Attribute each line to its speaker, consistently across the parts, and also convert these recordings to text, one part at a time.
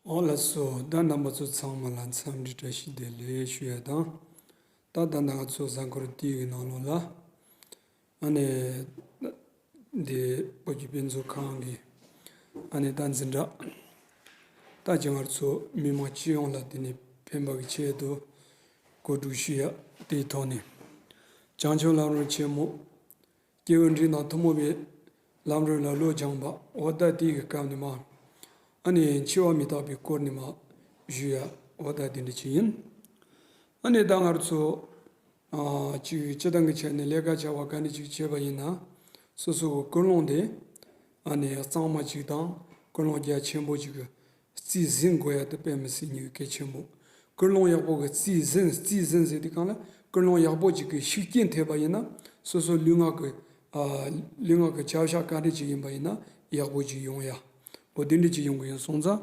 Speaker 1: འོ་ལ་སོ། ད་རྣམ་པ་ཚོ་ཚང་མ་ལ་འཚམས་འདྲི་བཀྲ་ཤིས་བདེ་ལེགས་ཞུ་ཡ་དང། ད་ད་ནག་ཚོ་གཟའ་འཁོར་དུས་ཡུན་གནང་ལོ་ལ། ཨ་ནེ། འདི་བོད་ཀྱི་དཔེ་མཛོད་ཁང་གི་ཨ་ནེ་རྟ་འཛིན་གྲགས། རྟ་རྒྱ་གར་ཚོ་མི་མང་སྤྱི་ཡོངས་ལ་དེ་ནས་ཕན་པ་གི་ཆེད་དུ་གོ་སྒྲུག་ཞུ་ཡ་དེའི་ཐོག་ནས་བྱང་ཆུབ་ལམ་རོལ་ཆེན་མོ་སྐྱེ་བོའི་འབྲིང་དང་ཐུ་མོ་བའི་ལམ་རོལ་ལ་ལོ་སྦྱངས་པ་འོ་ད་དེ་གི་སྐབས་ནས་མ་ཨ་ནེ་འཆི་བ་མི་རྟག་པའི་སྐོར་ནས་མ་ཞུ་ཡ་འོ་ད་དེ་འདྲ་ཅི་ཡིན་ཨ་ནེ་རྟ་སྔར་ཚོ་གཅིག་སྤྱི་བཏང་གི་ཆ་ནས་ལས་ཀ་བྱ་བ་ག་ནི་ཅིག་བྱས་པ་ཡིན་ན་སོ་སོ་གི་ཀུན་སློང་དེ་ནི་གཙང་མ་ཅིག་དང་ཀུན་སློང་རྒྱ་ཆེན་པོ་ཅིག་གི་རྩིས་ཟིན་དགོས་ཡག་ཏུ་སྤེལ་མི་སྲིད་སྙིང་གལ་ཆེན་པོ། ཀུན་སློང་ཡག་པོ་གི་རྩིས་ཟིན་རྩིས་ཟིན་ཟེར་དུས་གང་ལ་ཀུན་སློང་ཡག་པོ་ཅིག་གི་ཤུགས་རྐྱེན་ཐེབས་པ་ཡིན་ན་སོ་སོ་ལུས་ངག་གི་ལུས་ངག་གི་བྱ་བཞག་ག་འདྲི་ཅིག་ཡིན་པ་ཡིན་ན་ཡག་པོ་ཅིག་ཡོང་ཡག་པོ་དེ་འདྲི་ཅིག་ཡོང་གི་ཡིན་སོང་ཙང་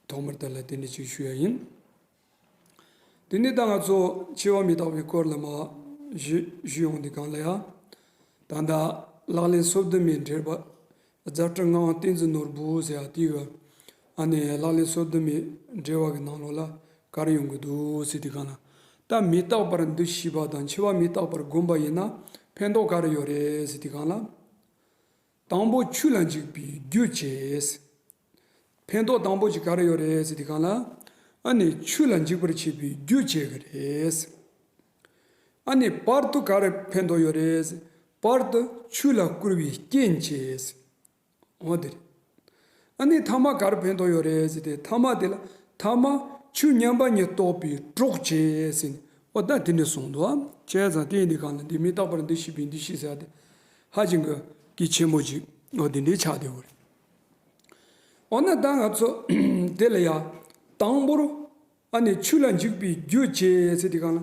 Speaker 1: ཐོག་མར་ཏཱ་ལ་དེ་འདྲི་ཅིག་ཞུ་ཡ་ཡིན། དེ་ནས་ད་ང་ཚོ་འཆི་བ་མི་རྟག་པའི་སྐོར་ལ་མ་བཞུད་ཡོང་འདི་གང་ལ་ཡང། ད་ལྟ་ལག་ལེན་སོབ་དུ་མའི་འགྲེལ་པ་རྫ་སྤྲུལ་ངག་དབང་བསྟན་འཛིན་ནོར་བུ་ཟེར་བ་དེའི་ཨ་ནེ་ལག་ལེན་སོབ་དུ་མའི་འགྲེལ་བ་གི་ནང་ལོགས་ལ་གར་ཡོང་གི་འདུག་ཟེར་དེ་གང་ལ་ད་མི་རྟག་པར་འདུ་ཤེས་པ་དང་འཆི་བ་མི་རྟག་པར་སྒོམ་པ་ཡིན་ན་ཕན་ཐོག་ག་རེ་ཡོད་རེད་ཟེར་དེ་གང་ལ། དང་པོ་ཆུ་ལ་འཇིགས་པའི་རྒྱུ་བྱས། ཕན་ཐོགས་དང་པོ་ཞིག་ག་རེ་ཡོད་རེད་ཟེར་དུས་གང་ལ་ཨ་ནི་ཆུ་ལ་འཇིགས་པར་བྱེད་པའི་རྒྱུ་བྱེད་གི་རེད། ཨ་ནི་པར་དུ་ག་རེ་ཕན་ཐོགས་ཡོད་རེད་ཟེར་པར་དུ་ཆུ་ལ་བསྐུར་བའི་རྐྱེན་བྱེད། འོ་དེ་རེད། ཨ་ནི་ཐ་མ་ག་རེ་ཕན་ཐོགས་ཡོད་རེད་ཟེར་དུས་ཐ་མ་དེ་ལ་ཐ་མ་ཆུ་མཉམ་པ་ཉིད་གཏོགས་པའི་གྲོགས་བྱེད་ཟེར་ནས་འོ་ད་དེ་འདྲ་གསུངས་འདུག་བྱས་ཙང་དེ་འདི་གང་ལ་འདི་མི་རྟག་པར་འདི་ཤེས་པས་འདི་ཤེས་ཟེར་ཡ་དེ་ཧ་ཅིང་གི་གལ་ཆེན་པོ་ཞིག་འོ་དེ་འདྲའི་ཆ་དེ་འོ་རེད། འོ་ན་ད་ང་ཚོ་དེ་ལ་ཡ། དང་པོར། ཨ་ནི་ཆུ་ལ་འཇུག་པའི་རྒྱུ་བྱེད་ཟེར་དེ་གང་ལ།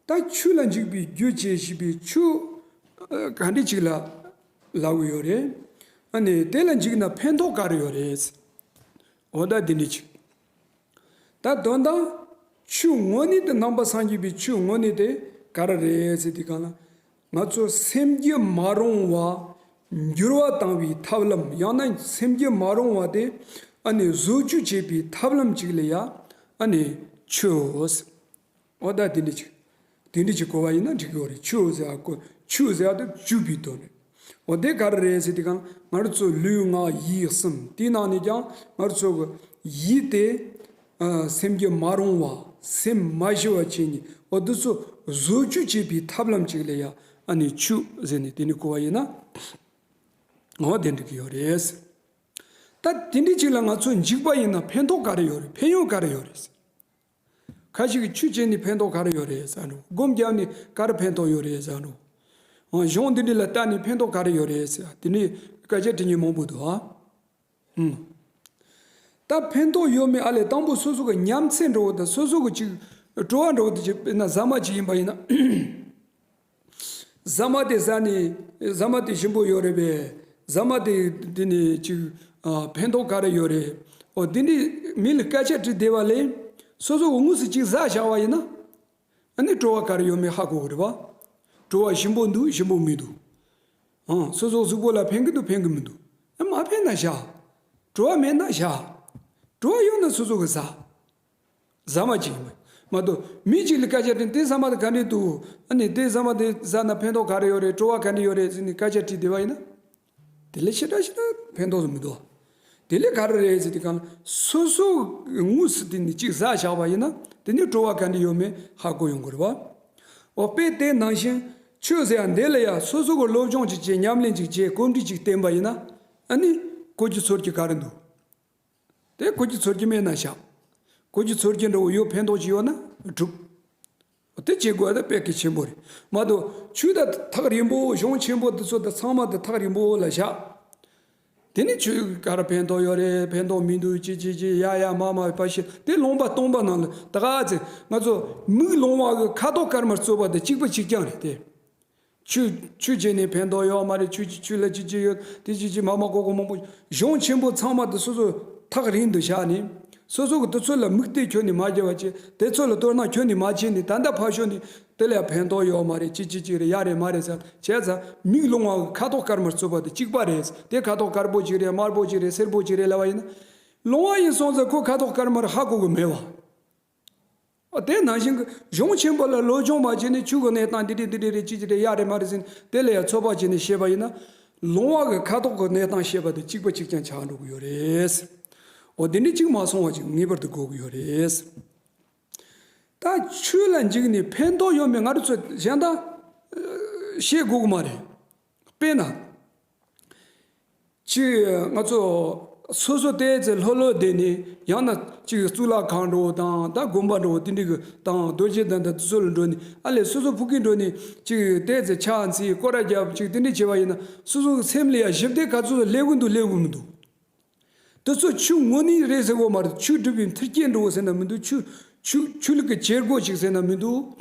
Speaker 1: ད་ཆུ་ལ་འཇུག་པའི་རྒྱུ་བྱེད་བྱས་པའི་ཆུ། ག་འདྲི་ཅིག་ལ་ལ་འོས་ཡོད་རེད། ཨ་ནི་དེ་ལ་འཇུག་ན་ཕན་ཐོག་ག་རེ་ཡོད་རེད། འོ་ད་དེ་འདྲི་ཅིག། ད་དོན་དང། ཆུ་དངོས་ནི་དེ་རྣམ་པ་སངས་རྒྱས་པའི་ཆུ་དངོས་ནི་དེ་ག་ར་རེད་ཟེར་དེ་གང་ལ། ང་ཚོ་སེམས་རྒྱུད་མ་རུང་བ་འགྱུར་བ་བཏང་བའི་ཐབས་ལམ་ཡང་ན་སེམས་རྒྱུད་མ་རུང་བ་དེ་ཨ་ནི་བཟོ་བཅོས་བྱེད་པའི་ཐབས་ལམ་ཅིག་ལ་ཡ་ཨ་ནི་ཆུའོཟ་ཨོ་ད་དེ་འདྲ་ཅིག་དེ་འདྲ་ཅིག་གོ་བ་ཡིན་ན་འགྲིག་གི་རེད་ཆུའོཟ་ཨ་ཀོ་ཆུའོཟ་ཨ་ད་བཅུ་པའི་དོན་རེད་ཨོ་དེ་ག་རེ་རེད་ཟེར་དེ་ག་ང་རོ་ཚོ་ལུས་ངག་ཡིད་གསུམ་དེའི་ནང་ནས་ཀྱང་ང་རོ་ཚོ་གི་ཡིད་དེ་སེམས་ཀྱི་མ་རུང་བ་སེམས་མ་ཞི་བ་བྱས་ནས་འོ་དུ་ཚོད་བཟོ་བཅུ་བྱེད་པའི་ཐབས་ལམ་གཅིག་ལས་ཡ་ཨ་ནི་བཅུ་ཟེར་ནས་དེ་ནི་གོ་བ་ཡིན་ན་ངོ་བདེན་འགྲིག་གི་ཡོད་རེད། ད་དེ་འདྲའི་ཅིག་ལ་ང་ཚོ་འཇིགས་པ་ཡིན་ན་ཕན་ཐོག་ག་རེ་ཡོད་རེད་ཕན་ཡོན་ག་རེ་ཡོད་རེད་ཟེར། ཁ་ཅིག་གིས་བཅུ་བྱས་ནས་ཕན་ཐོག་ག་རེ་ཡོད་རེད་བསམ་རུང་སྒོམ་རྒྱབ་ནས་ག་རེ་ཕན་ཐོག་ཡོད་རེད་བསམ་རུང། གཞུང་འདི་འདྲི་ལ་ལྟ་ནས་ཕན་ཐོག་ག་རེ་ཡོད་རེད་ཟེར་དེ་འདྲའི་སྐད་ཆ་དྲི་ངན་མང་པོ་འདུག་ཨ། ད་ཕན་ཐོགས་ཡོད་མེད་ཨ་ལས་དང་པོ་སོ་སོ་གི་ཉམས་ཚད་འགྲོ་བ་དང་སོ་སོ་གི་ཅིག་སྤྲོ་བ་འགྲོ་བ་དེ་ཅིག་དཔེར་ན་ཟ་མ་ཅིག་ཡིན་པ་ཡིན་ན། ཟ་མ་དེ་ཟ་ནི་ཟ་མ་དེ་ཞིམ་པོ་ཡོད་རེད་པས་ཟ་མ་དེ་དེ་ནི་ཅིག་ཕན་ཐོགས་ག་རེ་ཡོད་རེད། འོ་དེ་འདྲའི་མི་ལ་སྐད་ཆ་དྲི་བདེ་བ་ལས་སོ་སོ་འུ་དངོས་སུ་ཅིག་ཟ་བཞག་བ་ཡིན་ན། ཨ་ནི་སྤྲོ་བ་ག་རེ་ཡོད་མེད་ཧ་གོ་གི་རེད་བ། སྤྲོ་བ་ཞིམ་པོ་འདུག་ཞིམ་པོ་མི་འདུག། ཨང། སོ་སོ་གཟུགས་པོ་ལ་ཕན་གི་འདུག་ཕན་གི་མི་འདུག། ཨེ་མ་ཕན་ན་བཞག། སྤྲོ་བ་མེད་ན་བཞག། སྤྲོ་བ་ཡོད་ན་སོ་སོ་གི་བཟའ། བཟའ་མ་ཅིག་ཡིན། མ་གཏོགས་མི་གཅིག་ལ་སྐད་ཆ་དྲིས་དེ་ཟ་མ་དེ་ག་འདྲས་འདུག་ཨ་ནི་དེ་ཟ་མ་དེ་བཟའ་ན་ཕན་ཐོག་ག་རེ་ཡོད་རེད་སྤྲོ་བ་ག་འདྲས་ཡོད་རེད་ཟེར་ནས་སྐད་ཆ་དྲིས་བསྡད་པ་ཡིན་ན། དེ་ལས་ཕྱི་དགྲ་ཕྱི་དགྲ་ཕན་ཐོགས་སུ་མི་འགྲོ། དེ་ལས་ག་རེ་རེད་ཟེར་དུས་གང་སོ་སོ་དངོས་སུ་དེ་ནི་གཅིག་བཟའ་བཞག་པ་ཡིན་ན་དེ་ནི་བྲོ་བ་ག་འདྲི་ཡོད་མེད་ཧ་གོ་ཡོང་གི་རེད་བ། འོ་དཔེ་དེ་ནང་བཞིན་ཆོས་ཟེར་ཡ་འདི་ལ་ཡ་སོ་སོ་གི་སློབ་སྦྱོང་གཅིག་བྱེད་ཉམས་ལེན་གཅིག་བྱེད་བཀོད་འབྲི་གཅིག་བསྟན་པ་ཡིན་ན་ཨ་ནི་གོ་རྒྱུ་ཚོར་རྒྱུ་ག་རེ་འདུག། དེ་གོས་ཀྱི་ཚོར་གྱིས་མེད་ན་བཤགས། གོས་ཀྱི་ཚོར་གྱིས་འགྲོ་འོས་ཡོད་ཕན་འདོགས་ཀྱི་ཡོད་ན་གྲུབ། དེ་བྱེད་དགོས་ན་དཔེ་གལ་ཆེན་པོ་རེད་མ་གཏོགས་ཆོས་དང་ཐག་རིང་པོ་གཞུང་ཆེན་པོ་འདི་ཚོ་དང་ཚང་མ་དང་ཐག་རིང་པོ་ལ་བཞག། དེ་ནི་ཆོས་གར་ཕན་འདོགས་ཡོད་རེད་ཕན་འདོགས་མི་འདུག་ཅི་ཅི་ཅི་ཡ་ཡ་མ་མ་པ་ཞིག་དེ་སློང་པ་སྟོང་པ་རྣམས་ལ་དགའ་ཚེ་ང་ཚོ་མིག་ལོང་བ་གི་ཁ་དོག་དཀར་དམར་རྩོད་པ་དང་གཅིག་པ་གཅིག་རྐྱང་རེད་དེ། ཆུ། ཆུ་བྱས་ནས་ཕན་ཐོགས་ཡོད་མ་རེད་ཆུ་ཆུ་ལ་ཅི་ཅི་ཡོད་དེ་ཅི་ཅི་མ་མ་གོ་གོ་མང་པོ། གཞུང་ཆེན་པོ་ཚང་མ་དེ་སོ་སོ་ཐག་རིང་དུ་བཞག་ནས། སོ་སོ་གི་དེ་ཚོ་ལ་དམིགས་གཏད་ཁྱོད་ནས་མ་བརྒྱབ་བ་ཅི་དེ་ཚོ་ལ་ལྟོས་ན་ཁྱོད་ནས་མ་བྱས་ནས་ད་ལྟ་ཕར་ཞོག་ནས་དེ་ལ་ཕན་ཐོགས་ཡོད་མ་རེད་ཅི་ཅི་ཅི་རེད་ཡག་རེད་མ་རེད་ཟེར་བྱས་ཙང་མིག་ལོང་བ་ཁ་དོག་དཀར་དམར་རྩོད་པ་དེ་གཅིག་པ་རེད་དེ་ཁ་དོག་དཀར་པོ་ཅིག་རེད་དམར་པོ་ཅིག་རེད་སེར་པོ་ཅིག་རེད་ལབ་པ་ཡིན་ན། ལོང་བ་ཡིན་སོང་ཙང་ཁོ་ཁ་དོག་དཀར་དམར་ཧ་གོ་གི་མེད་བ། དེ་ནང་བཞིན་གཞུང་ཆེན་པོ་ལ་ལུས་སྦྱོང་བར་བྱས་ནས་ཆོས་ཀྱི་གནས་དང་འདི་དྲིས་འདི་དྲིས་རེད་ཅི་ཅི་དྲིས་ཡ་རེད་མ་རེད་ཟེར་ནས་དེ་ལ་ཡང་ཚོད་དཔག་བྱས་ནས་བཤད་པ་ཡིན་ན། ལུང་བ་གི་ཁ་དོག་གི་གནས་སྟངས་བཤད་པ་དེ་གཅིག་པ་གཅིག་ཀྱང་ཆགས་འགྲོ་གི་ཡོད་རེད། འོ་དེ་འདྲའི་གཅིག་མ་སོང་བ་ཅིག་ངེས་པར་དུ་དགོས་ཀྱི་ཡོད་རེད། ད་ཆོས་ལ་འཇིགས་ནས་ཕན་ཐོགས་ཡོད་མེད་ང་ཚོས་གཞན་དག་བཤད་དགོས་ཀྱི་མ་རེད། དཔེར་ན། གཅིག་ང་ཚོ་སོ་སོ་ལྟས་ཙི་ལྷོད་ལྷོད་བསྡད་ནས་ཡང་ན་གཅིག་གཙུག་ལག་ཁང་འགྲོ་བ་དང་ད་དགོན་པ་འགྲོ་བ་དེ་འདྲའི་གི་དང་རྡོ་རྗེ་དང་ད་སོ་ལ་འགྲོ་ནས་ཨ་ལས་སོ་སོ་ཕུག་གི་འགྲོ་ནས་གཅིག་ལྟས་ཙི་ཕྱག་འཚལ་སྐོར་ར་རྒྱབ་གཅིག་དེ་འདྲའི་བྱས་པ་ཡིན་ན་སོ་སོ་སེམས་ལ་ཡང་ཞིབ་བལྟས་ག་ཚོད་ལྷད་གི་འདུག་ལྷད་གི་མི་འདུག། དུ་ཚོ་ཆུ་སྔོ་ནི་རེད་ཟེར་བོ་མ་རེད་ཆུ་སྒྲུབ་པའི་མཐིལ་སྐྱེལ་འགྲོ་བོ་ཟེར་ན་མི་འདུག་ཆུ་ཆུ་ཆུ་ལུག་གི་བྱེད་སྒོ་ཞིག་ཟེར་ན་མི་འདུག་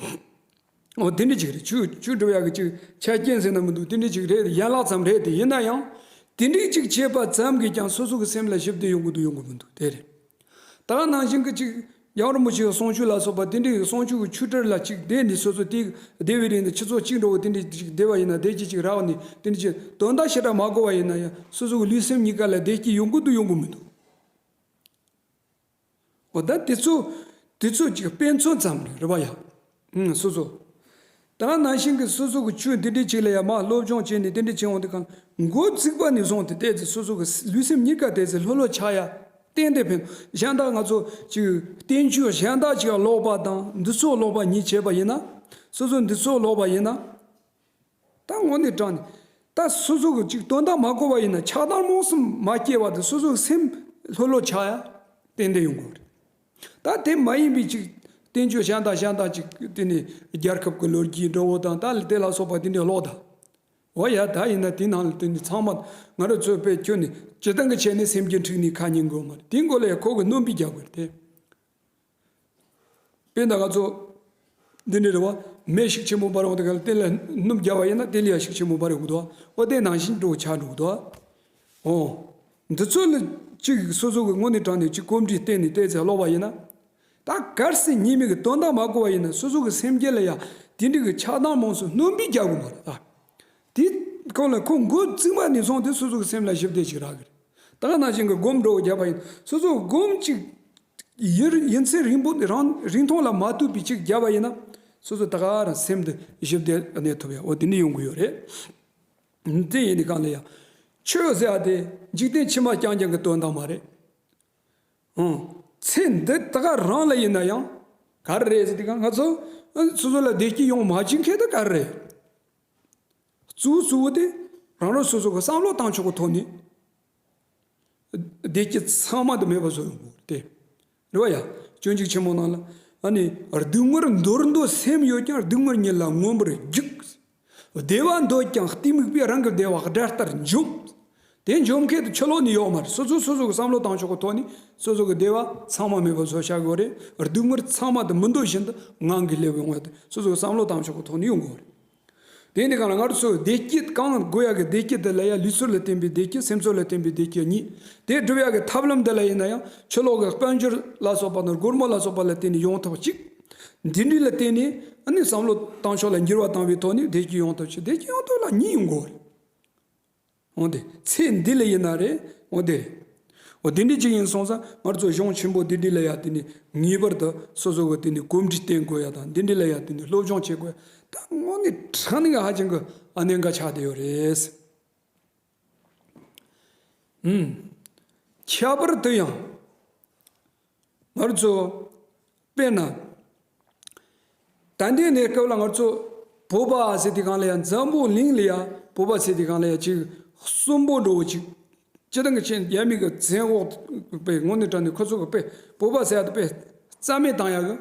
Speaker 1: འོ་དེ་འདྲི་ཅིག་རེད་ཆུ་ཆུ་སྒྲུབ་ཡག་གི་ཅིག་ཆ་རྐྱེན་ཟེར་ན་མི་འདུག་དེ་འདྲི་ཅིག་རེད་ཡན་ལག་ཙམ་རེད་དེ་ཡིན་ན་ཡང་དེ་འདྲི་ཅིག་བྱེད་པ་ཙམ་གྱིས་ཀྱང་སོ་སོ་གི་སེམས་ལ་ཞིབ་བསྡུར་ཡོང་གི་འདུག་ཡོང་གི་མི་འདུག་དེ་རེད་ད་ནང་བཞིན་གྱི་ཅིག་ཡང་རིན་པོ་ཆེའི་བསང་ཆུ་ལ་སོགས་པ་རྟེན་འབྲེལ་ཡོད་བསང་ཆུ་གི་ཆུ་གྲིར་ལ་གཅིག་བཟླས་ནས་སོ་སོ་སྟེ། བཟླས་པའི་རིང་དུ་ཁྱི་ཚོགས་གཅིག་འགྲོ་བའི་རྟེན་འབྲེལ་གཅིག་བཟླས་པ་ཡིན་ན་བཟླས་ཀྱི་གཅིག་རག་ནས་རྟེན་འབྲེལ་གཅིག་དོན་དག་བྱེ་བྲག་མ་གོ་བ་ཡིན་ན་ཡང་སོ་སོ་གི་ལུས་སེམས་གཉིས་ཀ་ལ་བཟླས་ཀྱི་ཡོང་གི་འདུག་ཡོང་གི་མི་འདུག་གོ། ད་དེ་ཚོ་དེ་ཚོ་གཅིག་དཔེ་མཚོན་ཙམ་རེ་རེ་བ་ཡང། སོ་སོ་དང་ནང་བཞིན་གྱི་སོ་སོ་གྱི་ཆོས་འདི་འདྲའི་ཆེད་ལ་ཡང་མ་སློབ་སྦྱོང་བྱས་ནས་དེ་འདྲའི་ཆེད་འོང་དེ་གང་མགོ་བརྩིགས་པ་ནས་བཟུང་སྟེ་བལྟས་ཚེ་སོ་སོ་གྱི་ལུས་སེམས་གཉིས་ཀ་བལྟས་ཚེ་ལྷོད་ལྷོད་ཆགས་ཡ་གཏན་བདེ་ཕན་གཞན་དག་ང་ཚོ་གཅིག་བསྟན་བཅོས་གཞན་དག་ཅིག་ཀློག་པ་དང་འདི་ཚོ་ཀློག་པ་ཉིད་བྱས་པ་ཡིན་ན་སོ་སོ་འདི་ཚོ་ཀློག་པ་ཡིན་ན་ད་ངོ་ནས་དྲངས་ནས་ད་སོ་སོ་གྱི་གཅིག་དོན་དག་མ་གོ་བ་ཡིན་ན་ཆགས་སྡང་རྨོངས་སེམས་མ་སྐྱེས་བར་དུ་སོ་སོ་གྱི་སེམས་ལྷོད་ལྷོད་ཆགས་ཡ་གཏན་བདེ་ཡོང་དགོས་པ་རེད། ད་དེ་མ་ཡིན་པའི་ཅིག། བསྟན་བཅོས་ཞང་དང་ཞང་དང་ཅིག། དེ་ནི་རྒྱལ་ཁབ་ཀྱི་ལོ་རྒྱུས་འགྲོ་བ་དང་ད་དེ་ལ་སོགས་པ་དེ་འདྲའི་ལོག་ལྟ། འོ་ཡ་ད་ཡིན་ན་དེ་ནང་ལ་དེ་འདྲའི་ཚང་མ་ང་རང་ཚོའི་དཔེ་ཁྱོད་ནི་སྤྱི་བཏང་གི་བྱས་ནས་སེམས་ཀྱི་འཁྲིག་ནས་ཁ་ཉིན་དགོས་མ་རེད་དེ་འགོ་ལས་ཁོ་གི་རྣོན་པོས་རྒྱག་དགོས་རེད་དེ། དཔེ་ད་ང་ཚོ། འདི་ནི་རེ་བ་མེད་ཤིག་ཆེན་པོ་འབར་བ་དང་འགལ་ལ་རྟེན་ལ་ནུབ་བརྒྱ་བ་ཡིན་ན་རྟེན་ལ་ཡ་ཤིག་ཆེན་པོ་འབར་བའི་དབུ་དོ། དབུ་རྟེན་ནང་བཞིན་འགྲོ་བའི་ཆ་འགྲོ་དོ། འོ། འདི་ཚོ་ལ་གཅིག་སོ་སོ་གི་ངོ་ནས་དྲངས་ནས་གཅིག་གོམས་འདྲིས་བརྟེན་ནས་བལྟས་ཚེ་ལོག་པ་ཡིན་ན། ད་གར་སའི་གཉིས་མེད་ཀྱི་དོན་དག་མ་གོ་བ་ཡིན་ན་སོ་སོ་གི་སེམས་བསྐྱེད་ལ་ཡང་དེ་འདྲིས་ཀྱི་ཆགས་སྡང་རྨོངས་སུ་སྣོན་སྤེལ་རྒྱག་དགོས་མ་རེད་ད། དེ་ཁོ་ལ་ཁོ་མགོ་རྩིག་པ་ནས་བཟུང་སྟེ་སོ་སོ་གི་སེམས་ལ་ཞིབ་བལྟས་ཞིག་རག་གི་རེད། ད་ནང་བཞིན་གྱི་སྒོམ་འགྲོ་བརྒྱ་བ་ཡིན་ན་སོ་སོ་སྒོམ་གཅིག་ཡིར་ཡིན་ཚེ་རིང་པོ་དེ་རང་རིང་ཐུང་ལ་མ་ལྟོས་པའི་ཅིག་བརྒྱབ་པ་ཡིན་ན། སོ་སོ་ད་ག་རང་སེམས་དུ་བཞི་བདེ་གནས་ཐུབ་ཡོད་འོ་དེ་འདྲ་ཡོང་གི་ཡོད་རེད། དེ་ཡིན་ནའི་གང་ལ་ཡང། ཆོས་ཟེར་བ་དེ་འཇིག་རྟེན་ཕྱི་མ་རྐྱང་རྐྱང་གི་དོན་དག་མ་རེད། ཧུམ། ཚེ་འདི་ད་ག་རང་ལ་ཡིན་ན་ཡང། ག་རེ་རེད་ཟེར་དུས་ང་ཚོ་སོ་སོ་ལ་བདེ་སྐྱིད་ཡོང་མ་བཅིངས་མཁན་དེ་ག་རེ་རེད། གཙོ་བོ་གཙོ་བོ་དེ་རང་རང་སོ་སོ་གི་བསམ་བློ་བཏང་ཆོག་གི་ཐོག་ནས། བདེ་སྐྱིད་ཚང་མ་དུ་མས་བུ་བཟོ་ཡོང་དགོས་ཏེ། རེ་བ་ཡ། སྤྱོད་འཇུག་ཆེན་མོ་རྣམས་ལ། ཨ་ནི། སྡུག་བསྔལ་འདོར་འདོད་སེམས་ཡོད་ཀྱང་སྡུག་བསྔལ་ཉིད་ལ་མངོན་པར་རྒྱུགས། བདེ་བ་འདོད་ཀྱང་གཏི་མུག་པས་རང་གི་བདེ་བ་དགྲ་ལྟར་འཇོམས། དེ་འཇོམས་མཁན་དུ་ཁྱོད་ལོག་ནི་ཡོག་མ་རེད་སོ་སོས་སོ་སོ་གི་བསམ་བློ་བཏང་ཆོག་གི་ཐོག་ནས་སོ་སོ་གི་བདེ་བ་ཚང་མ་མས་བུ་བཟོ་བྱ་དགོས་རེད། སྡུག་བསྔལ་ཚང་མ་དུ་མི་འདོད་བཞིན་དུ་ངང་གིས་སླེབས་པའི་སྔོན་དུ་སོ་སོས་བསམ་བློ་བཏང་ཆོག་གི་ཐོག་ནས་ཡོང་དགོས་རེད། དེ་ནི་གང་ལ་སྔར་སོར་བདེ་སྐྱིད་གང་དགོས་ཡག་གི་བདེ་སྐྱིད་དེ་ལ་ཡང་ལུས་ཚོར་ལ་བརྟེན་པའི་བདེ་སྐྱིད་སེམས་ཚོར་ལ་བརྟེན་པའི་བདེ་སྐྱིད་གཉིས་དེ་སྒྲུབ་ཡག་གི་ཐབས་ལམ་འདི་ལ་ཡིན་ན་ཡང་ཆུ་ལོག་གི་དཔལ་འབྱོར་ལ་སོགས་པ་དང་སྒོར་མོ་ལ་སོགས་པ་ལ་བརྟེན་ནས་ཡོང་ཐབས་གཅིག་འདི་འདྲིས་ལ་བརྟེན་ནས་ནི་བསམ་བློ་བཏང་ཕྱོགས་ལ་འགྱུར་བ་བཏང་བའི་ཐོག་ནས་བདེ་སྐྱིད་ཡོང་ཐབས་གཅིག་བདེ་སྐྱིད་ཡོང་ཐབས་ལ་གཉིས་ཡོང་དགོས། འོ་དེ། ཚེ་འདི་ལ་ཡིན་ན་རེ། འོ་དེ། འོ་དེ་འདྲའི་ཅིག་ཡིན་སོང་ས་སྔར་ཚོ་གཞུང་ཆེན་པོ་འདི་འདྲི་ལ་ཡ་དེ་ནི་ངེས་པར་དུ་སོ་སོ་གི་དེ་ནི་གོམས་འདྲི་བསྟེན་དགོས་ཡ་དང་འདི་འདྲི་ལ་ཡ་དེ་ནི་སློབ་སྦྱོང་བྱེད་དགོས་ད་དངོས་གནས་དྲང་གནས་ཀྱི་ཧ་ཅང་གི་ཨ་ནེ་འགའ་ཆགས་བསྡད་ཡོད་རེད། ཨུམ། ཁྱད་པར་དུ་ཡང། སྔར་ཚོ། དཔེར་ན། ད་ལྟའི་གནས་སྐབས་ལ་སྔར་ཚོ་བོད་པ་ཟེར་དེ་གང་ལ་ཡང་འཛམ་བུ་གླིང་ལ་ཡང་བོད་པ་ཟེར་དེ་གང་ལ་ཡང་ཅིག་གསུམ་པོ་འགྲོ་བོ་ཅིག་སྤྱི་བཏང་གི་ཆེད་ནས་རྒྱ་མི་གི་བཙན་འོག་ཏུ་པའི་ངོ་ནས་དྲངས་ནས་ཁོ་ཚོ་གི་པའི་བོད་པ་ཟེར་ཡག་དང་པའི་རྩ་མེད་བཏང་ཡག་གི་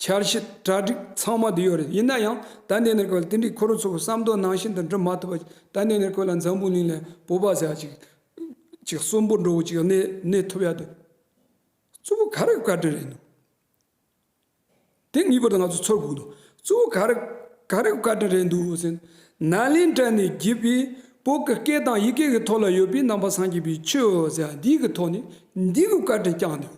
Speaker 1: འཆར་གཞི་གྲ་སྒྲིག་ཚང་མ་དེ་ཡོད་རེད་ཡིན་ན་ཡང་ད་ལྟའི་གནས་སྐབས་ལ་དེ་འདྲའི་ཁོ་རང་ཚོ་གི་བསམ་དོན་ནང་བཞིན་དུ་འགྲུབ་མ་ཐུབ་པ་ད་ལྟའི་གནས་སྐབས་ལ་འཛམ་བུ་གླིང་ལ་ཡང་བོད་པ་ཟེར་ཡག་ཅིག་ཅིག་གསུམ་པོ་འགྲོ་བོ་ཅིག་གནས་གནས་ཐུབ་ཡག་དུ། གཙོ་བོ་ག་རེ་བཀའ་དྲིན་རེད་འདུག། དེ་ངེས་པར་དུ་ང་ཚོས་ཚོར་དགོས་འདུག་གཙོ་བོ་ག་རེ་ག་རེ་བཀའ་དྲིན་རེད་འདུག་ཟེར་ན་ལན་སྤྲད་ནས་བགྱིས་པའི་བོད་ཀྱི་སྐད་དང་ཡི་གེ་ཀྱི་ཐོག་ལ་ཡོད་པའི་རྣམ་པ་སངས་རྒྱས་པའི་ཆོས་ཟེར་བ་འདི་གི་ཐོག་ནས་འདི་གི་བཀའ་དྲིན་བསྐྱངས་འདུག་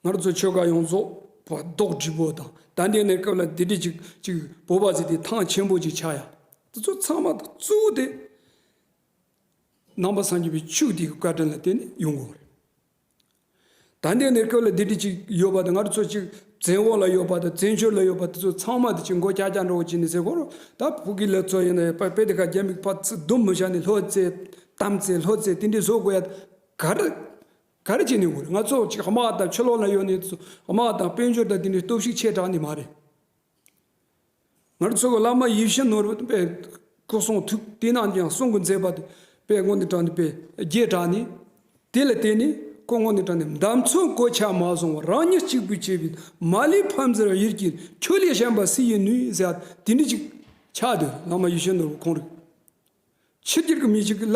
Speaker 1: ང་ཚོ་ཆོལ་ཁ་ཡོངས་རྫོགས་བོ་ལྡོག་བྲིས་པོ་དང་དད་ལྡན་ནས་སྐབས་ལ་དེ་དྲིས་ཅིག་ཅིག་བོད་པ་ཟེར་དེ་ཐང་ཆེན་པོ་ཅིག་ཆགས་ཡ་འདི་ཚོ་ཚང་མ་གཙོ་བོ་དེ། རྣམ་པ་སངས་རྒྱས་པའི་ཆོས་དེའི་བཀའ་དྲིན་ལ་བརྟེན་ནས་ཡོང་གི་རེད། ད་འདས་ནས་སྐབས་ལ་སྡེ་འདི་གཅིག་ཡོད་པ་དང་སྔར་ཚོ་གཅིག་བཙན་འོག་ལ་ཡོད་པ་དང་བཙན་བྱོལ་ལ་ཡོད་པ་དེ་ཚོ་ཚང་མ་དེ་གཅིག་མགོ་སྐྱག་སྐྱག་འདྲ་བོ་གྱིས་ནས་ཟེར་སྐོར་རོ། ད་བོད་ཀྱི་ལས་གཙོ་ཡིན་ན་པད་དེ་ཁ་རྒྱ་མིག་ཕག་ཚིལ་དུམ་བུ་བཞག་ནས་ལྷོད་རྩེ་གཏམ་རྩེ་ལྷོད་རྩེ་དེ་འདྲས་བཟོ་དགོས་ཡ་ད་ག་རེ་ག་རེ་བྱས་ནས་འོང་ང་ཚོ་གཅིག་དམག་དང་ཆོས་ལོག་ན་ཡོད་ནས་དམག་དང་དཔལ་འབྱོར་དང་དེ་འདྲས་སྟོབས་ཤུགས་ཆེ་དྲགས་ནས་མ་རེད། ངར་ཚོགས་བླ་མ་ཡིད་བཞིན་ནོར་བུ་པའི་སྐུ་གསུང་ཐུགས་དེ་རྣམས་ཀྱང་གསུང་གི་མཛད་པ་དེ་པའི་སྔོན་དུ་དྲངས་ཏེ་པའི་རྒྱས་དྲངས་ནས། དེ་ལ་བརྟེན་ནས་སྐུ་སྔོན་དུ་དྲངས་ནས་འདམ་ཚོན་གོ་ཆ་མ་བཟུང་བར་རང་ཉིད་གཅིག་པུས་བྱས་པའི་མ་ལུས་ཕམ་ཟེར་བ་ཡིད་ཀྱི་ཆོས་ལས་གཞན་པ་སུ་ཡིན་ནུས་ཟེར་བ་དེ་འདྲི་ཅིག། ཕྱག་རྡོར་བླ་མ་ཡིད་བཞིན་ནོར་བུ་ཁོང་རིག། ཕྱི་དཀྱིལ་གྱི་མི་ཞིག་གིས་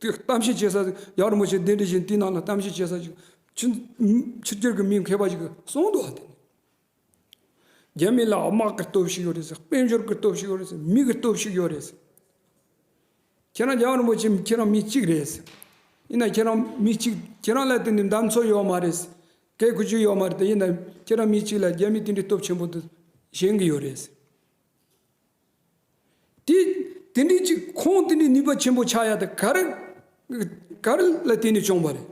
Speaker 1: གཏམ་བཤད་བྱེད་ས་ཞིག་ཡར་མོ་ཆེ་གདན་འདྲེན་བཞིན་དེ་རྣམས་ལ་གཏམ་བཤད་བྱེད་ས་ཞིག། ཕྱི་དཀྱིལ་གྱི་མི་མཁས་པ་ཞིག་གིས་གསུང་དུ་བ་དེ་ནི། རྒྱ་མི་ལའོ་དམག་གི་སྟོབས་ཤུགས་ཡོད་རེད་ཟེར་དཔལ་འབྱོར་གྱི་སྟོབས་ཤུགས་ཡོད་རེད་ཟེར་མིག་གི་སྟོབས་ཤུགས་ཡོད་རེད་ཟེར། ཁྱེད་རང་རྒྱ་གར་རིན་པོ་ཆེ་ཁྱེད་རང་མི་གཅིག་རེད་ཟེར། ཡིན་ན་ཁྱེད་རང་མི་གཅིག་ཁྱེད་རང་ལ་དེ་འདྲའི་འདམ་ཚོ་ཡོད་མ་རེད་ཟེར། སྐད་གོ་རྒྱུ་ཡོད་མ་རེད་ཡིན་ན་ཁྱེད་རང་མི་གཅིག་ལ་རྒྱ་མི་དེ་འདྲའི་སྟོབས་ཆེན་པོ་འདི་བཞེངས་གི་ཡོད་རེད་ཟེར། དེ་དེ་འདྲའི་ཅིག་ཁོང་དེ་འདྲའི་ནུས་པ་ཆེན་པོ་ཆགས་ཡ་དེ་ག་རེ་ག་རེ་ལ་བརྟེན་ནས་བྱུང་བ་རེད།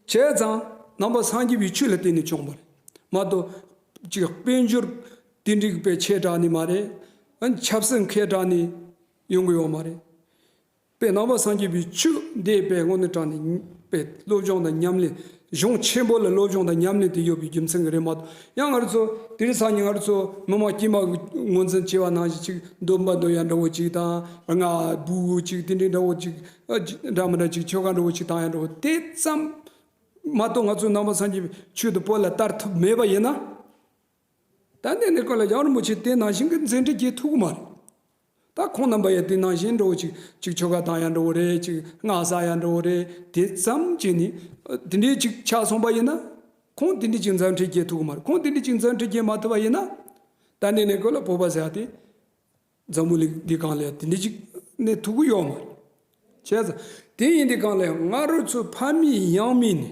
Speaker 1: བྱས་ཙང་རྣམ་པ་སངས་རྒྱས་པའི་ཆོས་ལ་བརྟེན་ནས་བྱུང་བ་རེད་མ་གཏོགས་ཅིག་དཔལ་འབྱོར་དེ་འདྲའི་བས་ཆེ་དྲགས་ནས་མ་རེད། ཆབ་སྲིད་མཁས་དྲགས་ནས་ཡོང་དགོས་བ་མ་རེད། པའི་རྣམ་པ་སངས་རྒྱས་པའི་ཆོས་འདས་པའི་སྔོན་དུ་དྲངས་ནས་པའི་བློ་སྦྱོང་དང་ཉམས་ལེན་གཞུང་ཆེན་པོ་ལ་བློ་སྦྱོང་དང་ཉམས་ལེན་དུ་ཡོད་པའི་རྒྱུ་མཚན་གྱི་རེ་མ་ཏོག་ཡང་སྔར་ཚོ་དེ་རིང་སང་ཉིན་སྔར་ཚོ་མི་མང་དཀྱིལ་མ་དངོས་འཛིན་བྱེད་པ་ནང་བཞིན་ཅིག་འདོད་པ་འདོད་ཡ་འདྲ་བོ་ཅིག་དང་རྔ་སྦུག་ཅིག་དེ་འདྲའི་འདྲ་བོ་ཅིག་འདྲ་མི་འདྲ་ཅིག་ཆོ་ག་འདྲ་བོ་ཅིག་དང་ཡ་འདྲ་བོ་དེ་ཙམ་མ་གཏོགས་ང་ཚོའི་རྣམ་པ་སངས་རྒྱས་པའི་ཆོས་དང་པོ་ལ་བསྟར་ཐུབ་མེད་པ་ཡིན་ན། ད་འདི་ནི་ཀུན་ལ་ཡར་མོ་ཆེ་དེ་ནང་བཞིན་གྱི་མཛེས་འཕྲིན་གྱི་ཐུགས་དམར། ད་ཁོང་རྣམ་པ་ཡང་དེ་ནང་བཞིན་འགྲོ་བོ་ཅིག་ཅིག་ཆོ་ག་དང་ཡང་འགྲོ་བོ་རེད་ཅིག་སྔགས་ཟ་ཡང་འགྲོ་བོ་རེད་དེ་ཙམ་གྱིས་ནི། དེ་འདྲའི་ཅིག་ཆགས་སོང་པ་ཡིན་ན། ཁོང་དེ་འདྲའི་ཅིག་མཛངས་འཕྲིན་གྱི་ཐུགས་དམར་ཁོང་དེ་འདྲའི་ཅིག་མཛངས་འཕྲིན་གྱི་མ་ཐུབ་པ་ཡིན་ན། ད་འདི་ནི་ཀུན་ལ་བོད་པ་ཟེར་ཏེ། འཛམ་བུ་གླིང་འདི་གང་ལས་དེ་འདྲའི་ཅིག་ནི་ཐུགས་ཡོད་མ་རེད། བྱས་ཙང་དེ་ཡིན་དེ་གང་ལས་ང་རོ་ཚོའི་ཕ་མེས་ཡང་མེས་ནི།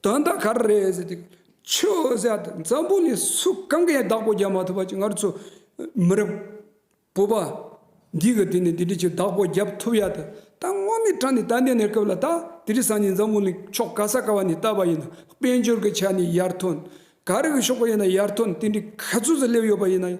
Speaker 1: དོན་དག་ག་རེ་རེད་ཟེར་ཏེ། ཆུ་བཞི་འཛམ་བུ་ནས་སུ་གང་གིས་བདག་པོ་རྒྱག་མ་ཐུབ་པ་ཅིག་སྔར་ཚོ་མི་རབས་བོད་པ་འདི་གིས་དེ་ནས་དེ་འདྲའི་ཆུ་བདག་པོ་རྒྱབ་ཐུབ་ཡ་ད་ད་སྔོན་མའི་དྲ་ནས་ད་ལྟའི་གནས་སྐབས་ལ་ད་དེ་རིགས་སང་ཉིན་འཛམ་བུ་ནས་ཕྱོགས་ག་ས་ག་བ་ནས་བལྟ་བ་ཡིན་ན་དཔལ་འབྱོར་གྱི་ཆ་ནས་ཡར་ཐོན་ག་རེ་གི་ཕྱོགས་པ་ཡིན་ན་ཡར་ཐོན་དེ་འདྲའི་ག་ཚོད་ཟིག་སླེབས་ཡོད་པ་ཡིན་ན་ཡང་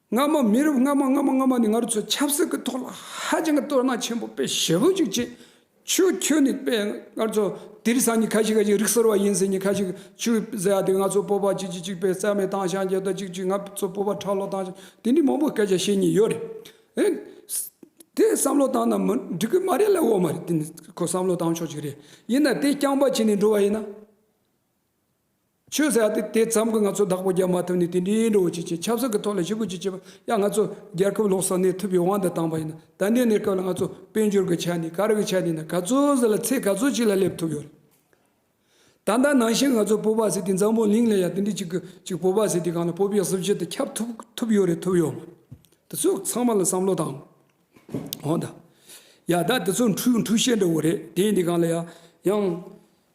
Speaker 1: སྔ་མ་མི་རབས་སྔ་མ་སྔ་མ་སྔ་མ་ནས་ང་རོ་ཚོས་ཆབ་སྲིད་ཀྱི་ཐོག་ལ་ཧ་ཅང་གི་དོ་སྣང་ཆེན་པོ་དཔེ་ཞེ་བོ་ཅིག་བྱེད། ཆུ་ཁྱོད་ནི་དཔེ་ང་རོ་ཚོ་དིར་སང་ཉི་ཁ་ཞིག་ཁ་ཞིག་རིག་སོར་བ་ཡིན་ཟེར་ཉི་ཁ་ཞིག་ཆུ་ཟེར་ཡ་དེ་ང་ཚོ་སྤོབས་པ་ཅིག་ཅིག་ཅིག་པའི་རྩལ་མེད་དྭངས་ཤང་རྒྱལ་དར་ཅིག་ཅིག་ང་ཚོ་སྤོབས་པ་ཁྲག་ལོ་དྭངས་ཤང་དེ་འདྲའི་མང་པོ་སྐད་ཆ་བཤད་ཉེན་ཡོད་རེད། དེ་བསམ་བློ་བཏང་ན་མི་འགྲིག་གི་མ་རེད་ལ་འོ་མ་རེད་དེ་ནི་ཁོ་བསམ་བློ་བཏང་ཆོག་ཅིག་རེད་ཡིན་ན་དེ་རྐྱང་པ་བྱས་ནས་འགྲོ་བ་ཡིན་ན། ཆོས་ཟེར་ཡ་དེ་ཙམ་གྱིས་ང་ཚོ་བདག་པོ་རྒྱག་མ་ཐུབ་ནས་དེ་འདྲའི་འགྲོ་བ་ཅིག་ཅིག་ཆབ་སྲིད་ཀྱི་ཐོག་ལ་ཞི་རྒོལ་ཅིག་བྱེད་པ་ཡང་ང་ཚོ་རྒྱལ་ཁབ་ལོག་སར་གནས་ཐུབ་པའི་དབང་དུ་བཏང་པ་ཡིན་ན་ད་ལྟའི་གནས་སྐབས་ལ་ང་ཚོ་དཔལ་འབྱོར་གྱི་ཆ་ནས་ག་རེ་གི་ཆ་ནས་ན་ག་ཚོད་ཟིག་ལ་ཚད་ག་ཚོད་ཅིག་ལ་སླེབས་ཐུབ་ཡོད་རེད། ད་ལྟ་ནང་བཞིན་ང་ཚོ་བོད་པ་ཟེར་དེ་འཛམ་བུ་གླིང་ལ་ཡང་དེ་འདྲའི་ཅིག་གི་ཅིག་བོད་པ་ཟེར་དེ་གང་ལ་བོད་པའི་གཟི་བརྗིད་དུ་ཁྱབ་ཐུབ་ཐུབ་ཡོད་རེད་ཐུབ་ཡོད་མ་རེད་དེ་ཚོས་ཚང་མ་ལ་བསམ་བློ་བཏང་འོང་དང། ཡ་ད་དེ་ཚོ་འཁྲུག་འཁྲུག་བཤད་འགྲོ་བོ་རེད་དེ་འདི་གང་ལ་ཡང་ཡང།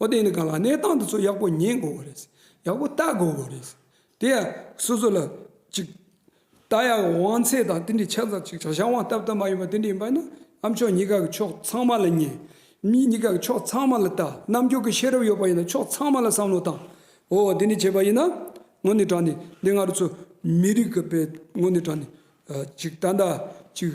Speaker 1: ཨོ་དེ་ནི་གང་ལགས་གནས་སྟངས་འདི་ཚོ་ཡག་པོ་ཉན་དགོས་པ་རེད། ཡག་པོ་ལྟ་དགོས་པ་རེད། དེ་ཡང་སོ་སོ་ལ་ཅིག། ད་ཡང་དབང་ཚད་དང་དེ་འདྲའི་ཆ་ཚང་ཅིག་བྱ་བྱང་བ་ལྟབ་ལྟབ་མ་ཡིན་པ་དེ་འདྲ་ཡིན་པ་ན་ཨ་མཆོག་གཉིས་ཀ་གི་ཕྱོགས་ཚང་མ་ལ་ཉན། མི་གཉིས་ཀ་གི་ཕྱོགས་ཚང་མ་ལ་ལྟ་རྣམ་འགྱུར་གྱི་ཤེས་རབ་ཡོད་པ་ཡིན་ན་ཕྱོགས་ཚང་མ་ལ་བསམ་བློ་བཏང། འོ་དེ་འདྲ་བྱས་པ་ཡིན་ན་ངོ་ནས་དྲང་ནས་འདི་ང་རོ་ཚོ་མི་རིགས་ཀྱི་པའི་ངོ་ནས་དྲང་ནས་ཅིག་ད་ལྟ་ཅིག།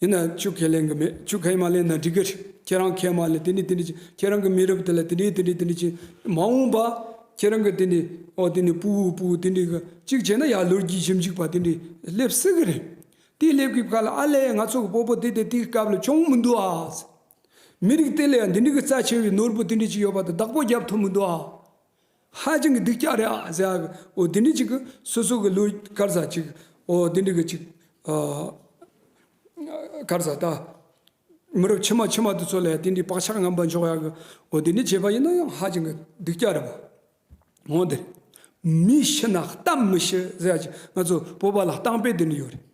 Speaker 1: ཡིན་ན་ཅུ་ཁས་ལེན་གི་མེད་ཅུ་ཁས་མ་ལེན་ན་འགྲིག་གི་རེད་ཁྱེད་རང་ཁས་མ་ལེན་དེ་ནི་དེ་ནི་ཅི་ཁྱེད་རང་གི་མི་རབས་དེ་ལ་དེ་འདྲའི་དེ་འདྲའི་དེ་འདྲའི་ཅི་མ་འོངས་པ་ཁྱེད་རང་གི་དེ་ནི་ཨོ་དེ་ནི་སྤུ་བོ་སྤུ་བོ་དེ་འདྲའི་གི་གཅིག་བྱས་ན་ཡར་ལོ་རྒྱུས་ཞིབ་འཇུག་པ་དེ་འདྲའི་སླེབས་སྲིད་གི་རེད་དེ་སླེབས་གི་ཁར་ལ་ཨ་ལས་ང་ཚོ་གི་སྤོ་པོ་དེ་དེ་དེའི་སྐབས་ལ་བྱུང་མི་འདུག་ཨ། མི་རིགས་དེ་ལ་ཡང་འདི་འདྲའི་གི་རྩ་ཆེ་བའི་ནོར་བུ་དེ་འདྲའི་ཅི་ཡོད་པ་དེ་བདག་པོ་རྒྱབ་ཐུབ་མི་འདུག་ཨ། ཧ་ཅང་གི་སྡིག་སྐྱག་རེད་ཨ་ཟེར་ཨ་གི་འོ་དེ་འདྲི་ཅིག་སོ་སོ་གི་ལུས་དཀར་བཟའ་ཅིག་འོ་དེ་འདྲི་གི་ཅིག་ཨ་དཀར་བཟའ་ད་མི་རབས་ཕྱི་མ་ཕྱི་མ་དེ་ཚོ་ལ་དེ་འདྲི་བག་ཆགས་ངན་པ་འཇོག་ཡག་གི་འོ་དེ་འདྲི་བྱེད་པ་ཡིན་ན་ཡང་ཧ་ཅང་གི་སྡིག་སྐྱག་རེད་བ་འོ་དེ་མི་ཤི་ན་གཏམ་མི་ཤི་ཟེར་ཡག་ཅིག་ང་ཚོ་བོད་པ་ལ་གཏམ་དཔེ་དེ་འདྲི་ཡོད་རེད།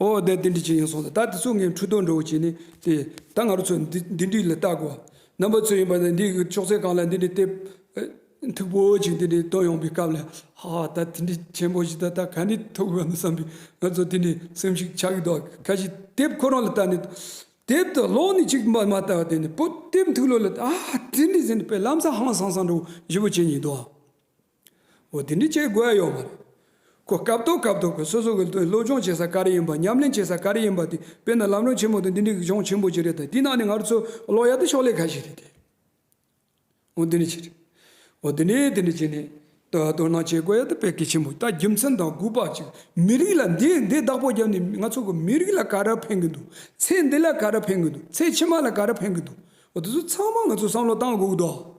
Speaker 1: ཨོ་ཨོ་དེ་འདི་འདྲི་བྱེད་ཡིན་སོང་ལ་ད་དེ་ཚོ་ངའི་འཕྲུལ་རྟོག་འགྲོ་བོ་བྱས་ནས་དེ་ད་ང་རོ་ཚོ་འདི་འདྲི་ལ་བལྟ་དགོ་བ་རྣམ་པ་ཚོ་ཡིན་པ་ནི་འདི་ཅོག་ཙེ་གང་ལ་འདི་འདྲི་སྟེ་མཐུག་པོ་ཅིག་འདི་འདྲི་བཏོན་ཡོང་པའི་སྐབས་ལ་ཧ་ཧ་ད་དེ་འདྲི་ཆེན་པོ་ཞིག་ད་ད་ག་ནས་ཐུག་དགོ་ནི་བསམ་པའི་ང་ཚོ་དེ་འདྲི་སེམས་ཤིག་ཆགས་ཀྱི་འདུག་ཁ་ཞིག་དེབ་ཁོ་རང་ལ་བལྟ་ནས་དེབ་དེ་ཀློག་ནས་ཅིག་མ་མ་བལྟ་བ་དེ་ནི་པོ་དེབ་མཐུག་ལོ་ལ་ཨ་ཧ་དེ་འདྲི་ཟེར་ནས་དཔེ་ལམ་ས་ཧང་སང་སང་འགྲོ་བོ་བཞི་པོ་བྱས་ཉིན་འདུག། འོ་དེ་འདྲ་བྱེད་དགོས་ཡོད་མ་རེད། ཁོ་སྐབས་ཐོག་སྐབས་ཐོག་གི་སོ་སོ་གི་སློབ་སྦྱོང་བྱེད་ས་ག་རེ་ཡིན་པ་ཉམས་ལེན་བྱེད་ས་ག་རེ་ཡིན་པ་དེ་དཔེར་ན་ལམ་རོང་ཆེན་མོ་དང་འདི་འདྲའི་གཞོང་ཆེན་པོ་ཅིག་རེད་ད་དེའི་ནང་ནས་ང་ཚོ་ཀློག་ཡག་ཏུ་ཕྱོགས་ལས་ཁ་ཞིག་རེད་དེ། འོ་དེ་འདྲ་བྱེད་རེད། འོ་དེ་འདྲས་དེ་འདྲ་བྱེད་ནས་དོ་དོ་སྣང་བྱེད་དགོས་ཡག་ཏུ་ཕེབས་ཀི་ཆེན་པོ་ད་རྒྱུ་མཚན་དང་སྒུག་པ་ཅིག་མི་རིགས་ལ་འདི་འདི་བདག་པོ་རྒྱབ་ནས་ང་ཚོ་གི་མི་རིགས་ལ་ག་རེ་ཕན་གི་འདུག་ཚེ་འདི་ལ་ག་རེ་ཕན་གི་འདུག་ཚེ་ཕྱི་མ་ལ་ག་རེ་ཕན་གི་འདུག་འོ་དེ་ཚོ་ཚང་མ་ང་ཚོ་བསམ་བློ་བཏང་དགོས་གི་འདུག་ཨ།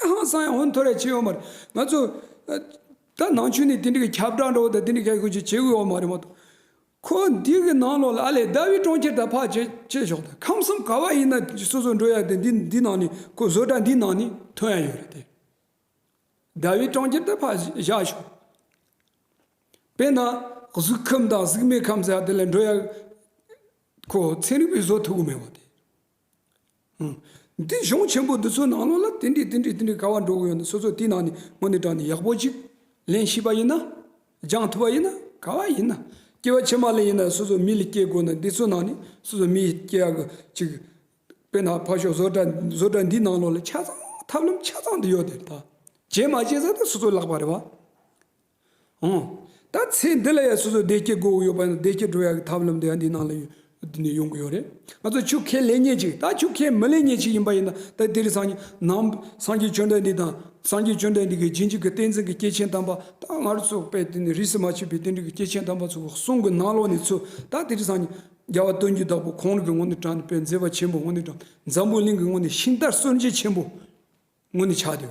Speaker 1: ཀྲེང་ཧྭ་ཧྲང་ཧོ་མཐོ་རིས་ཆེ་ཡོད་མ་རེད། ང་ཚོ། ད་ནང་ཆོས་ནི་དེ་འདྲའི་ཁྱབ་བསྒྲགས་འདྲ་བོ་དང་དེ་འདྲའི་ཁ་ཁུ་བྱུག་བྱེད་འོས་མ་རེད་མ་གཏོགས། ཁོ་འདི་གི་ནང་ལོགས་ལ་ཨ་ལས་ཟླ་བའི་གྲོང་ཁྱེར་དག་ཕག་བྱེད་བྱེད་ཞོག་དང་ཁམས་གསུམ་ག་བ་ཡིན་ན་སོ་སོ་འགྲོ་ཡ་དེ་འདི་འདི་ནང་ནས་ཁོ་བཟོ་གྲྭ་འདིའི་ནང་ནས་ཐོན་ཡ་ཡོད་རེད་དེ། ཟླ་བའི་གྲོང་ཁྱེར་དག་ཕག་བཞག་ཞོག། དཔེར་ན་གཟུགས་ཁམས་དང་གཟུགས་མེད་ཁམས་ཟེར་ཡ་དེ་ལ་འགྲོ་ཡ། ཁོ་ཚན་རིག་པས་བཟོ་ཐུབ་གི་མེད་པ་དེ། འདི་གཞུང་ཆེན་པོ་འདི་ཚོའི་ནང་ལོགས་ལ་དེ་འདྲའི་དེ་འདྲའི་དེ་འདྲའི་ག་བ་འགྲོ་གི་ཡོད་འདུག་སོ་སོ་དེའི་ནང་ནས་ངོ་ནས་དྲངས་ནས་ཡག་པོ་ཅིག་ལེན་ཤེས་པ་ཡིན་ན། སྦྱང་ཐུབ་པ་ཡིན་ན་ག་བ་ཡིན་ན། སྐྱེ་བ་ཕྱི་མ་ལ་ཡིན་ན་སོ་སོའི་མི་ལ་སྐྱེ་དགོས་ན་འདི་ཚོའི་ནང་ནས་སོ་སོའི་མི་སྐྱེ་ཡག་གི་ཅིག། དཔེར་ན་ཕར་ཞོག་བཟོ་གྲྭ་བཟོ་གྲྭ་འདིའི་ནང་ལོགས་ལ་ཆ་ཚང་ཐབས་ལམ་ཆ་ཚང་འདི་ཡོད་དེ་ད། བྱས་མ་བྱས་ཟེར་ན་སོ་སོའི་ལག་པ་རེད་བ། ཨང། ད་ཚེ་འདི་ལ་ཡང་སོ་སོའི་བདེ་སྐྱིད་དགོས་དགོས་ཡོད་པ་ནི་བདེ་སྐྱིད་འགྲོ་ཡག་གི་ཐབས་ལམ་དེ་ཡང་འདི་ནང་ལ་ཡོད་འདི་ནས་ཡོང་གི་ཡོད་རེད། ང་ཚོ་ཆུ་ཁའི་ལས་གཉེར་ཅིག་ད་ཆུ་ཁའི་མི་ལས་གཉེར་ཅིག་ཡིན་པ་ཡིན་ན་ད་དེ་རིང་སངས་ནང་སངས་རྒྱས་ཆོས་འདྲ་འདི་དང་སངས་རྒྱས་ཆོས་འདྲ་འདི་གི་རྗེས་འཇུག་གི་བསྟན་འཛིན་གི་སྐྱེས་ཆེན་དམ་པ་ད་ང་རོ་ཚོ་པས་དེ་ནི་རིས་སུ་མ་ཆད་པའི་བསྟན་འགྲོའི་སྐྱེས་ཆེན་དམ་པ་ཚོ་གསུང་གི་ནང་ལོགས་ནས་ཚུད་ད་དེ་རིང་སངས་རྒྱ་བ་སྟོན་རྒྱུ་བདག་པོ་ཁོང་རིགས་ཀྱི་ངོ་ནས་དྲངས་ནས་པའི་མཛད་པ་ཆེན་པོ་ངོ་ནས་དྲངས་འཛམ་བུའི་གླིང་གི་ངོ་ནས་ཤིང་རྟར་གསོན་བྱེད་ཆེན་པོ། སྔོན་ནས་ཆགས་ཏེ།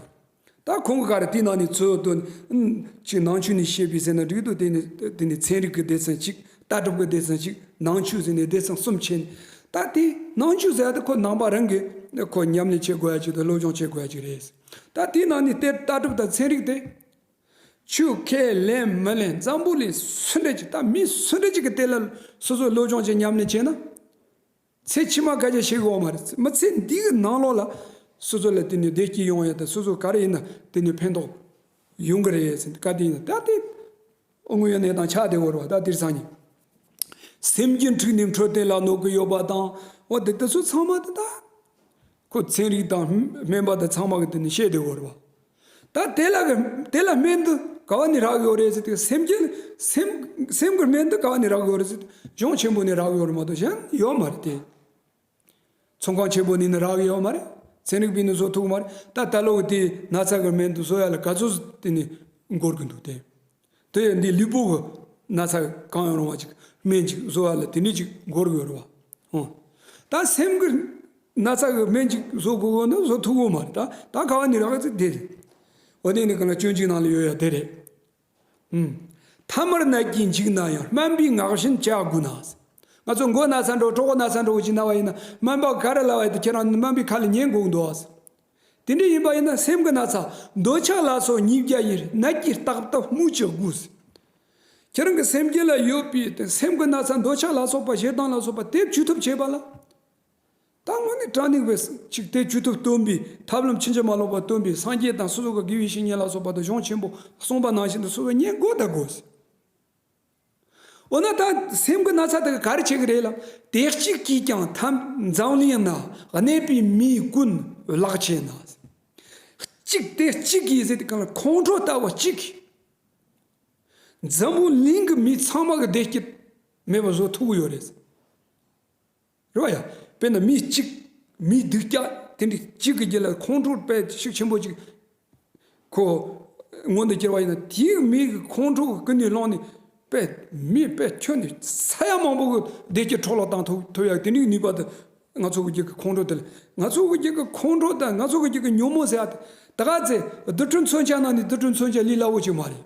Speaker 1: ད་ཁོང་གི་ཁར་དེའི་ནང་ནས་ཚོས་ལྟོས། གཅིག་ནང་ཆོས་ནས་བཤད་པའི་ཟེར་ན་འགྲིག་འདུག་དེ་ནས་ཚན་རིག་གི་སྡེ་ཚན་གཅིག་ལྟ་གྲུབ་ཀྱི་སྡེ་ཚན་གཅིག་ནང་ཆོས་ཟེར་ནས་སྡེ་ཚན་གསུམ་ཕྱེ་ནས། ད་དེ་ནང་ཆོས་ཟེར་ཡ་དེ་ཁོ་ནང་པ་རང་གིས་ཁོ་ཉམས་ལེན་བྱེད་དགོས་ཡ་ཅིག་དང་སློབ་སྦྱོང་བྱེད་དགོས་ཡ་ཅིག་རེད། ད་དེའི་ནང་ནས་དེར་ལྟ་གྲུབ་དང་ཚན་རིག་དེ། ཆོས་ཁས་ལེན་མི་ལེན་འཛམ་བུ་གླིང་སུ་འདྲ་ཅིག་ད་མི་སུ་འདྲ་ཅིག་གིས་དེ་ལ་སོ་སོས་སློབ་སྦྱོང་བྱེད་ཉམས་ལེན་བྱེད་ན། ཚེ་ཕྱི་མ་བཀའ་རྒྱ་ཤེས་དགོས་བ་མ་རེད། ཚེ་མི་ཚེ་འདི་གི་ནང་ལོགས་ལ། སོ་སོ་ལ་དེ་ནས་བདེ་སྐྱིད་ཡོང་ཡ་དང་སོ་སོ་ག་རེ་ཡིན་ན་དེ་ནས་ཕན་ཐོགས་ཡོང་གི་རེད་ཟེར་བཀའ་དེ་ཡིན་ན་ད་དེ། དངོས་ཡོད་གནས་སྟངས་ཆགས་བསྡད་བོར་བ་ད་དེར་སང་ཉིན། སེམས་ཀྱི་འཁྲུལ་ནས་འཕྲོད་བསྟེན་ལ་གནོད་གི་ཡོད་པ་དང་འོ་དེ་དེ་ཚོ་ཚང་མ་དེ་ད། ཁོ་ཚན་རིག་དང་སྨན་པ་དང་ཚང་མ་གི་དེ་ནས་བཤད་བསྡད་བོར་བ། ད་དེ་ལ་དེ་ལ་སྨན་དུ་དགའ་བ་ནི་རག་ཡོད་རེད་ཟེར་དུས་སེམས་ཅན་སེམས་སེམས་ཀྱི་སྨན་དུ་དགའ་བ་ནི་རག་ཡོད་རེད་ཟེར་དུས་ལྗོངས་ཆེན་པོ་ནི་རག་ཡོད་རེད་མ་གཏོགས་གཞན་ཡོད་མ་རེད་དེ། ཚོང་ཁང་ཆེན་པོ་ནི་ནི་རག་ཡོད་མ་རེད་ཚན་རིག་པས་ནི་བཟོ་ཐུབ་མ་རེད་ད་ད་ལོ་དེ་ནགས་ཚལ་གྱི་སྨན་དུ་བཟོ་ཡ་ལ་ག་ཚོད་དེ་ནི་འགོར་གྱི་འདུག་དེ། དེ་ཡང་འདིའི་ལུས་པོ་གི་ན་ཚ་གང་ཡང་རུང་བ་ཅིག་སྨན་ཅིག་བཟོ་བ་ལ་དེ་ནས་ཅིག་འགོ་རུ་ཡོད་རུང་བ། ད་སེམས་ཀྱི་ན་ཚ་གི་སྨན་ཅིག་བཟོ་དགོས་དགོས་ན་བཟོ་ཐུབ་དགོས་མ་རེད། ད་ད་ཁ་བ་ནི་རག་ཚིག་དེ་རེད། འོ་དེ་ནི་གང་ལ་སྐྱོན་གཅིག་ནང་ལ་ཡོད་ཡ་དེ་རེད། མཐའ་མར་ནད་ཀྱིས་འཇིགས་ན་ཡང་སྨན་པའི་ངག་བཞིན་བྱ་དགོས་ན། ང་ཚོ་མགོ་ན་ཚ་འགྲོ་གྲོགས་ན་ཚ་འགྲོ་ཅིག་ན་བ་ཡིན་ན་སྨན་པ་ག་རེ་ལ་བ་ཡོད་དེ་ཁྱེད་རང་སྨན་པའི་ཁ་ལ་ཉན་དགོས་འདུག། དེ་འདྲ་ཡིན་པ་ཡིན་ན་སེམས་ཀྱི་ན་ཚ་འདོད་ཆགས་ལ་སོགས་ཉིས་བརྒྱ་ཡི་སྣད་ཀྱིས་བརྟགས་སྟབས་སྨོས་ཅི་དགོས་ཟེར། ཁྱེད་རང་གི་སེམས་བསྐྱེད་ལ་ཡོད་པའི་དེ་སེམས་ཀྱི་ན་ཚ་འདོད་ཆགས་ལ་སོགས་པ་ཞེ་སྡང་ལ་སོགས་པ་སྟེ་བཅུ་ཐུབ་བྱེད་པ་ལ། ད་དངོས་གནས་དྲང་ནི་བས་ཅིག་སྟེ་བཅུ་ཐུབ་སྟོན་པའི་ཐབས་ལམ་ཕྱིན་ཅི་མ་ལོག་པ་སྟོན་པའི་སངས་རྒྱས་དང་སོ་སོ་ག་དགེ་བའི་བཤེས་གཉེན་ལ་སོགས་པ་དུ་ཞང་ཆེན་པོ་ལ་གསུངས་པ་ནང་བཞིན་དུ་སོ་སོ་ཉན་དགོས་ད་དགོས་ཟེར། འོ་ན་ད་སེམས་ཀྱི་ན་ཚ་དེ་ག་རེ་བྱེད་ཀྱི་རེད་ལ་དེ་གཅིག་གིས་ཀྱང་ཐབས་མཛངས་གླིང་ན་གནས་པའི་མིའི་ཀུན་བརླག་བྱས་ན། གཅིག་དེ་གཅིག་གིས་ཟེར་དེ་གང་ལ་ཁོང་ཁྲོ་ལྟ་བུ་གཅིག་གིས་འཛམ་བུ་གླིང་གི་མི་ཚང་མ་གི་བདེ་སྐྱིད་མེད་པ་བཟོ་ཐུབ་ཀྱི་ཡོད་རེད། རེད་བ་ཡ། དཔེར་ན་མི་གཅིག་མིའི་སྡིག་སྐྱག་དེ་འདྲི་གཅིག་གི་རྒྱུད་ལ་ཁོང་ཁྲོ་དཔལ་ཤུགས་ཆེན་པོ་ཅིག་གོ། མངོན་དུ་གྱུར་བ་ཡིན་ན་དེའི་མིག་གི་ཁོང་ཁྲོ་གི་ཀུན་ནས་བསླངས་ནས་དཔལ་མི་དཔལ་ཁྱོད་ནི་ས་ཡ་མང་པོ་གི་བདེ་སྐྱིད་འཕྲོག་བརླག་བཏང་ཐུབ་ཡ་དེ་འདྲིའི་ནུས་པ་དེ་ང་ཚོ་གི་རྒྱུད་ཀྱི་ཁོང་ཁྲོ་དེ་ལ་ང་ཚོ་གི་རྒྱུད་ཀྱི་ཁོང་ཁྲོ་དང་ང་ཚོ་གི་རྒྱུད་ཀྱི་ཉོན་མོངས་ཟེར་ཡ་དེ་ད་ག་ཚད་རྡུལ་ཕྲན་མཚོན་ཆ་ནང་ནས་རྡུལ་ཕྲན་མཚོན་ཆ་ལས་སླ་བོ་ཅིག་མ་རེད།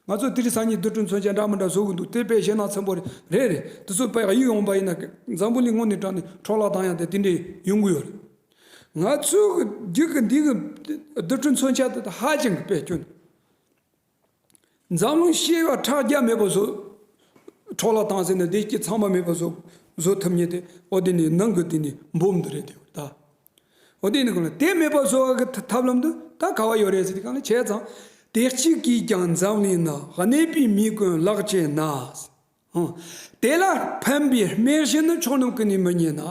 Speaker 1: ང་ཚོ་དེ་རིང་སང་ཉིན་དུས་གྲོན་མཚོན་ཆ་འདྲ་མི་འདྲ་བཟོ་གི་འདུག་དེ་དཔེ་ཞེ་ནག་ཚན་པོ་རེད་རེད་དེ་ཚོ་དཔེ་ཡིག་ཡོང་བ་ཡིན་ན་བཟང་པོ་ལས་སྔོན་ནས་དྲངས་ནས་འཕྲོ་བརླག་བཏང་ཡང་དེ་དེ་འདྲའི་ཡོང་གི་ཡོད་རེད། ང་ཚོའི་རྒྱུད་ཀྱི་འདི་གི་དུས་གྲོན་མཚོན་ཆ་དེ་དག་ཧ་ཅང་གི་དཔེ་སྐྱོན་རེད། འཛམ་གླིང་ཤེས་ཡོན་ཕྲག་བརྒྱ་མེད་པ་བཟོ་འཕྲོ་བརླག་བཏང་ཟེར་ནས་བདེ་སྐྱིད་ཚང་མ་མེད་པ་བཟོ་ཐུབ་ངེས་ཏེ་ཨོ་དེ་ནས་ནང་གི་དེ་ནས་འབུམ་དུ་རེད་དེ་ད་ཨོ་དེ་ནི་གང་ལགས། དེ་མེད་པར་གསོ་བ་གི་ཐབས་ལམ་དུ་ད་ག་བ་ཡོད་རེད་ཟེར་དེ་གང་ལགས་བྱས་ཙང། དེ་གཅིག་གིས་ཀྱང་འཛམ་གླིང་ན་གནས་པའི་མི་ཀུན་བརླག་བྱས་ན། དེ་ལ་ཕན་པའི་རྨེན་གཞི་ནི་ཕྱོགས་རྣམས་ཀུན་ནས་མི་རྙེད་ན།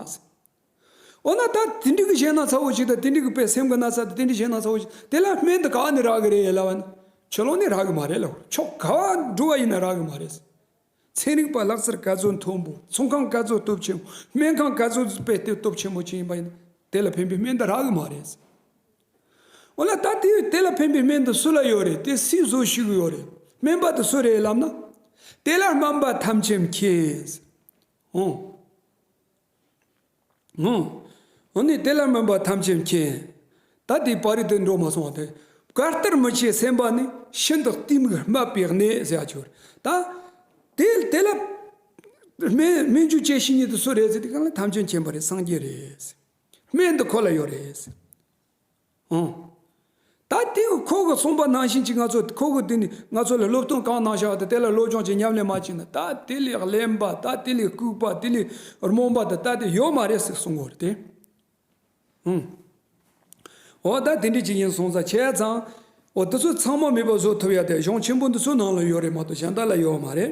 Speaker 1: འོ་ན་ད་དེ་འགྲིག་གི་བྱས་ན་ཚ་བོ་ཞིག་དང་དེ་འགྲིག་གི་དཔེ་སེམས་ཀྱི་ན་ཚ་དང་དེ་འགྲིག་བྱས་ན་ཚ་བོ་ཞིག་དེ་ལ་རྨེན་དུ་ག་བ་ནི་རག་གི་རེད་ལབ་བ་ནི། ཆུ་ཀློང་ནི་རག་གི་མ་རེད་ལབ་ཕྱོགས་ག་བ་འགྲོ་བ་ཡིན་ན་རག་གི་མ་རེད། ཚན་རིག་པ་ལག་རྩལ་དཀའ་ཚོད་མཐོན་པོ་ཚོང་ཁང་དཀའ་ཚོད་སྟོབས་ཆེན་པོ་སྨན་ཁང་དཀའ་ཚོད་དཔེ་སྟོན་སྟོབས་ཆེན་པོ་བཅས་ཡིན་པ་ཡིན། དེ་ལ་ཕན་པའི་སྨན་འདི་རག་གི་མ་རེད། འོ་ན་ད་དེ་དེ་ལ་ཕན་པའི་སྨན་འདི་སུ་ལ་ཡོད་རེད་དེ་སུས་བཟོས་ཤིག་ཡོད་རེད་སྨན་པ་དེ་སུ་རེད་ལབ་ན། དེ་ལ་སྨན་པ་ཐམས་ཅད་མཁྱེན། ངོ། འོ་ནི་དེ་ལ་སྨོན་པ་ཐམས་ཅད་མཁྱེན། ད་དེའི་བག་རེ་དེ་འགྲོ་མ་སོང་བ་དེ། བག་ལྟར་མི་བྱེད་སེམས་པ་ནི། ཤིན་ཏུ་གཏི་མུག་སྨད་པའི་གནས་ཟེར་བ་གྱུར། ད་དེ་དེ་ལ། སྨན་ཆུ་སྐྱེས་ཤིང་ཉིད་དུ་སུ་རེད། ཟེར་དེ་གང་ལ་ཐམས་ཅད་མཁྱེན་པ་རེད་སངས་རྒྱས་རེད། སྨན་འདི་ཁོ་ལ་ཡོད་རེད། ཨང། ད་ལྟའི་ཁོ་གི་གསུངས་པ་ནང་བཞིན་གྱི་ང་ཚོ་ཁོ་གི་དུས་ནས་ང་ཚོ་ལ་སློབ་སྟོན་གང་གནང་བཞག་དང་དེ་ལ་བློ་སྦྱོང་བྱེད་ཉམས་ལེན་མ་བྱས་ན་ད་དེ་ལས་གླེན་པ་ད་དེ་ལས་ལྐུགས་པ་དེ་ལས་རྨོངས་པ་དང་ལྟ་དེ་ཡོད་མ་རེད་ཟེར་གསུངས་འོར་ཏེ། ཨང། འོ་ད་དེ་འདྲའི་ཅིག་ཡིན་གསུངས་ཙང་བྱས་ཙང། འོ་དེ་ཚོ་ཚང་མ་མེད་པ་བཟོ་ཐུབ་ཡ་དེ་གཞུང་ཆེན་པོ་འདི་ཚོའི་ནང་ལ་ཡོད་རེད་མ་གཏོགས་གཞན་དག་ལ་ཡོད་མ་རེད།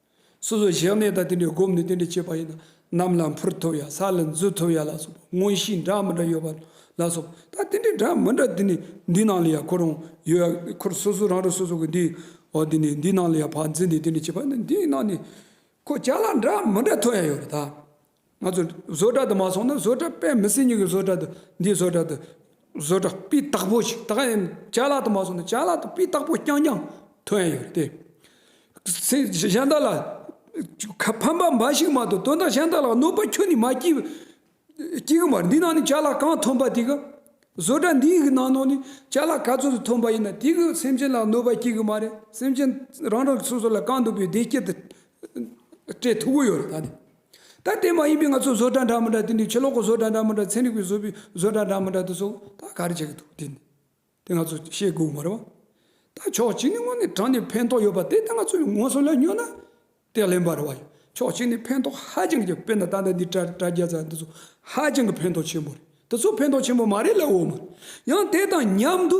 Speaker 1: སོ་སོ་གཞན་གནས་དང་དེ་འདྲའི་སྒོམ་ནི་དེ་འདྲ་བྱེད་པ་ཡིན་ན་ནམ་ལ་འཕུར་ཐུབ་ཡང་ས་ལ་འཛུལ་ཐུབ་ཡ་ལ་སོགས་པ་དངོས་གཞི་འདྲ་མི་འདྲ་ཡོད་པ་ལ་སོགས་པ་ད་དེ་འདྲའི་འདྲ་མི་འདྲ་དེ་ནི་འདི་ནང་ལ་ཡང་ཁོ་རང་ཡོད་ཡ་ཁོ་སོ་སོ་རང་རང་སོ་སོ་གི་འདི་འོ་དེ་ནི་འདི་ནང་ལ་ཡང་བར་འཛིན་ནི་དེ་འདྲ་བྱེད་པ་ནི་འདིའི་ནང་ནས་ཁོ་ཅག་ལ་འདྲ་མི་འདྲ་ཐོན་ཡ་ཡོད་རེད་ད། ང་ཚོས་བཟོ་གྲྭ་དུ་མ་སོང་ན་བཟོ་གྲྭ་དཔེ་མི་སྲིད་སྙིང་གི་བཟོ་གྲྭ་དུ་འདིའི་བཟོ་གྲྭ་དུ་བཟོ་གྲྭ་སྤུས་དག་པོ་ཞིག་ད་ཡིན་བྱ་གླག་དུ་མ་སོང་ན་བྱ་གླག་དུ་སྤུས་དག་པོ་རྐྱང་རྐྱང་ཐོན་ཡོད་རེད་དེ། སེམས་གཞན་དག་ལ་ཕན་པ་འབའ་ཞིག་མ་ཐོན་དོན་དག་གཞན་དག་ལ་གནོད་པ་ཁྱོན་ནས་མ་སྐྱིད། སྐྱིད་གི་མ་རེད་འདི་ནང་ནས་བྱ་གླག་གང་ཐོན་པ་དེ་ག་བཟོ་གྲྭ་འདིའི་གི་ནང་ནང་ནས་བྱ་གླག་ག་ཚོད་དུ་ཐོན་པ་ཡིན་ན་དེ་གི་སེམས་ཅན་ལ་གནོད་པ་སྐྱིད་གི་མ་རེད་སེམས་ཅན་རང་རང་གི་སོ་སོ་ལ་གང་འདོད་པའི་བདེ་སྐྱིད་དུ་སྤྲད་ཐུབ་ཀྱི་ཡོད་རེད་ད་ནི། ད་ལྟའི་མ་ཡིན་པའི་ང་ཚོ་བཟོ་གྲྭ་འདྲ་མི་འདྲ་དེ་འདྲའི་ཕྱི་ལོག་གི་བཟོ་གྲྭ་འདྲ་མི་འདྲ་ཚན་རིག་པའི་བཟོ་པའི་བཟོ་གྲྭ་འདྲ་མི་འདྲ་དེ་སོགས་ད་ག་རེ་བྱེད་ཀྱི་འདུག་དེ་དེ་ང་ཚོ་ཤེས་དགོས་མ་རེད་བ། ད་ཕྱོགས་གཅིག་ནས་དངོས་ནས་དྲང་ནས་ཕན་ཐོགས་ཡོད་པ་དེ་ད་ང་ཚོས་ངོ་སོ་ལ་ཉོས་ན་དེ་ལེན་པ་རེད་བ། ཕྱོགས་གཅིག་ནས་ཕན་ཐོགས་ཧ་ཅང་གི་དཔེར་ན་ད་ལྟ་འདི་དྲ་དྲ་རྒྱ་ཚ་འདི་ཚོ་ཧ་ཅང་གི་ཕན་ཐོགས་ཆེན་པོ་རེད་དེ་ཚོ་ཕན་ཐོགས་ཆེན་པོ་མ་རེད་ལ་འོ་མ་རེད་ཡང་དེ་དང་མཉམ་དུ།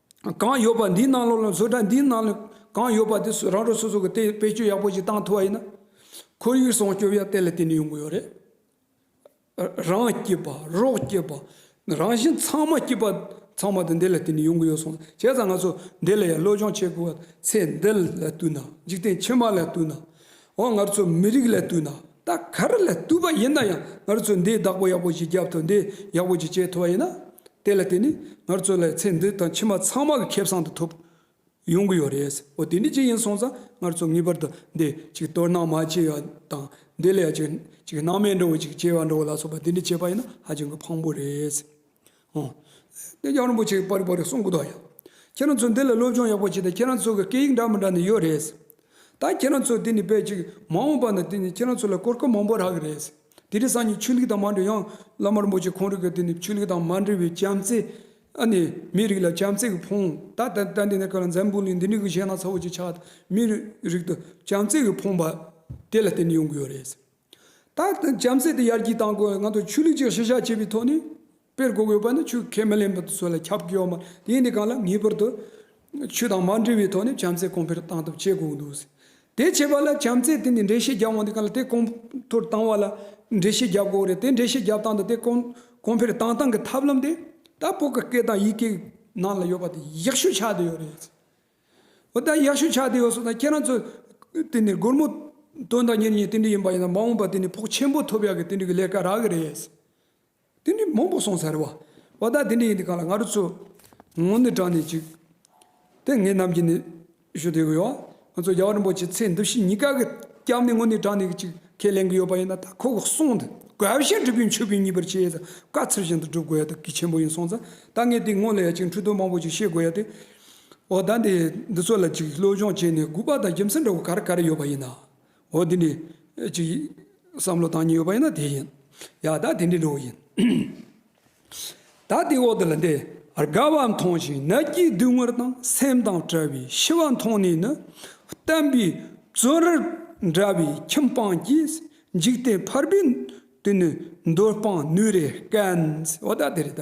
Speaker 1: གང་ཡོད་པ་འདིའི་ནང་ལོགས་ལ་བཟོ་གྲྭ་འདིའི་ནང་ལོགས་གང་ཡོད་པ་དེ་རང་གྲོང་སོ་སོ་གི་དེ་བེད་སྤྱོད་ཡག་པོ་ཞིག་བཏང་ཐུབ་པ་ཡིན་ན་ཁོར་ཡུག་སྲུང་སྐྱོབ་ཡང་དེ་ལས་དེ་ནས་ཡོང་གི་ཡོད་རེད། རང་སྐྱིད་པ་རོགས་སྐྱིད་པ་རང་བཞིན་ཚང་མ་སྐྱིད་པ་ཚང་མ་དེ་འདི་ལས་དེ་ནས་ཡོང་གི་ཡོད་སོང་བྱས་ཙང་ང་ཚོ་འདི་ལ་ཡང་བློ་སྦྱོང་བྱེད་དགོས་པ་ཚེ་འདི་ལ་ལྟོས་ན་འཇིག་རྟེན་ཕྱི་མ་ལ་ལྟོས་ན་འོ་ང་ཚོ་མི་རིགས་ལ་ལྟོས་ན་ད་གར་ལ་བཏུས་པ་ཡིན་ན་ཡང་ངར་ཚོས་འདིའི་བདག་པོ་ཡག་པོ་ཞིག་རྒྱབ་ཐོ་འདི་ཡག་པོ་ཅིག་བྱས་ཐུབ་པ་ཡིན་ན། དེ་ལ་བརྟེན་ནས་ངར་ཚོ་ལ་ཚེ་འདི་དང་ཕྱི་མ་ཚང་མ་གི་ཁེབས་བཟང་དུ་ཐོབ་ཡོང་གི་ཡོད་རེད། འོ་དེ་འདྲའི་ཅིག་ཡིན་སོང་ཙང་ངར་ཚོ་ངེས་པར་དུ་འདི་ཅིག་སྟོར་སྣང་མ་བྱེད་ཡ་དང་འདི་ལས་ཅིག་སྣང་མེད་འགྲོ་བ་ཅིག་སྐྱེ་བར་འགྲོ་ལ་སོགས་པ་འདི་འདྲ་བྱེད་པ་ཡིན་ན་ཧ་ཅང་གི་ཕངས་པོ་རེད། ཧོ། དེ་ཡང་རིན་པོ་ཆེ་གི་པར་རིས་པར་རིས་གསུང་གི་འདུག་ཡ། ཁྱེད་རང་ཚོས་འདི་ལ་སློབ་སྦྱོང་ཡག་པོ་བྱས་ཏེ་ཁྱེད་རང་ཚོ་གི་སྐད་ཡིག་འདྲ་མི་འདྲ་ནི་ཡོད་རེད། ད་ཁྱེད་རང་ཚོས་དེ་ནི་དཔེ་གཅིག་མ་འོངས་པ་ན་དེ་ནི་ཁྱེད་རང་ཚོ་ལ་གོ་སྐབས་མང་པོ་རག་གི་རེད། དེ་རིང་སང་ཉིན་ཆོས་ལུགས་དང་མ་འབྲེལ་ཡང་བླ་མ་རིན་པོ་ཆེ་ཁོང་རིགས་ཀྱི་དེ་ནི་ཆོས་ལུགས་དང་མ་འབྲེལ་བའི་བྱམས་བརྩེ། ཨ་ནི་མི་རིགས་ལ་བྱམས་བརྩེ་གི་ཕུང། ད་ལྟ་ལྟ་འདི་ནི་ཁ་ལ་འཛམ་བུ་གླིང་འདི་འདྲའི་གི་གཞས་སྣ་ཚ་བོ་ཅིག་ཆགས་ཏེ་མི་རིགས་དུ་བྱམས་བརྩེ་གི་ཕུང་པ་དེ་ལ་བརྟེན་ནས་ཡོང་གི་ཡོད་རེད། ད་ལྟ་གྱམ་སྲས་དེ་ཡར་རྒྱས་བཏང་དགོས་ང་ཚོ་ཆོས་ལུགས་ཅིག་ཤི་བཤགས་བྱེད་པའི་ཐོག་ནས་སྤེལ་དགོས་དགོས་པ་ནི་ཆོས་ཁས་མི་ལེན་པ་དེ་ཚོ་ལ་ཁྱབ་ཀྱི་ཡོད་མ་རེད་དེ་ནི་གང་ལ་ངེས་པར་དུ་ཆོས་དང་མ་འབྲེལ་བའི་ཐོག་ནས་གྱམ་སྲས་གོང་འཕེལ་བཏང་ཐབས་བྱེད་དགོས་འདུག་དེ་བྱེད་པ་ལ་གྱམ་སྲས་དེ་ནས་འགྲེལ་བཤད་རྒྱབ་འོང་དེ་གང་ལ་དེ་གོང་མཐོར་བཏང་བ་ལ་འགྲེལ་བཤད་རྒྱབ་དགོས་རེད་དེ་འགྲེལ་བཤད་རྒྱབ་སྟངས་དང་དེ་གོང་འཕེལ་བཏང་སྟངས་ཀྱི་ཐབས་ལམ་དེ་ད་བོད་ཀྱི་སྐད་དང་ཡིག་གེ་ནང་ལ་ཡོད་པ་དེ་ཡག་ཤོས་ཆགས་བསྡད་ཡོད་རེད། འོ་ད་ཡག་ཤོས་ཆགས་བསྡད་ཡོད་སོང་ད་ཁྱེད་རང་ཚོ་དེ་ནས་སྒོར་མོ་དོན་དང་གཉེར་ཉེ་ཏིན་འགྲིག་ཡིན་པ་ཡིན་ན་མ་འོངས་པ་དེ་ནས་ཕོགས་ཆེན་པོ་ཐོབ་ཡག་གི་ཏིན་འགྲིག་གི་ལས་ཀ་རག་གི་རེད། ཏིན་འགྲིག་མང་པོ་སོང་ཚར་བ། འོ་ད་དེ་འདྲ་ཡིན་དུས་གང་ལ་ང་རོ་ཚོ་ངོ་ནི་དྲང་ནས་ཅིག་དེ་ངེད་རྣམས་ཀྱིས་ནི་ཞུ་བསྡད་གི་ཡོད། ང་ཚོ་རྒྱ་བ་རིན་པོ་ཆེ་ཚེ་འདི་ཕྱི་གཉིས་ཀ་གི་སྐྱབས་ནི་ངོ་ནི་དྲང་ནས་ཅིག་ཁས་ལེན་གི་ཡོད་པ་ཡིན་ན་ད་ཁོ་གི་གསུང་དེ་དགའ་བཞིན་འགྲུབ་པའི་མཆོད་པའི་ཉིན་པར་བྱས་ཙང་དཀའ་ཚེགས་བཞིན་དུ་སྒྲུབ་དགོས་ཡ་ཏུ་གི་ཆེན་པོ་ཡིན་སོང་ཙང་ད་ངས་དེ་སྔོན་ལ་ཡ་ཅིག་འཕྲུལ་རྟོག་མང་པོ་ཅིག་ཤེས་དགོས་ཡ་ཏུ། འོ་ད་འདི་འདི་ཚོ་ལ་ཅིག་བློ་སྦྱོང་བྱས་ནས་དགུ་པ་དང་རྒྱུ་མཚན་འདྲ་བོ་ག་རེ་ག་རེ་ཡོད་པ་ཡིན་ན། འོ་འདི་འདི། ཅིག། བསམ་བློ་བཏང་ཉིན་ཡོད་པ་ཡིན་ན་དེ་ཡིན། ཡ་ད་དེ་འདྲའི་འགྲོ་བ་ཡིན། ད་དེའི་འོག་ཏུ་ལ་འདི་རྒ་བ་མཐོང་ཞིང་ན་སྐྱིད་སྡུག་དངོས་དང་སེམས་དང་བྲལ་བའི་ཤི་བ་མཐོང་ནས་ནི། བསྟན་པའི་བཙོན་རར་འདྲ་བའི་ཁྱིམ་སྤངས་ཀྱིས་འཇིག་རྟེན་ཕར་བུད་དུ་ནི་འདོད་སྤངས་ནུས་རེ་སྐན། འོ་ད་དེ་རེ་ད།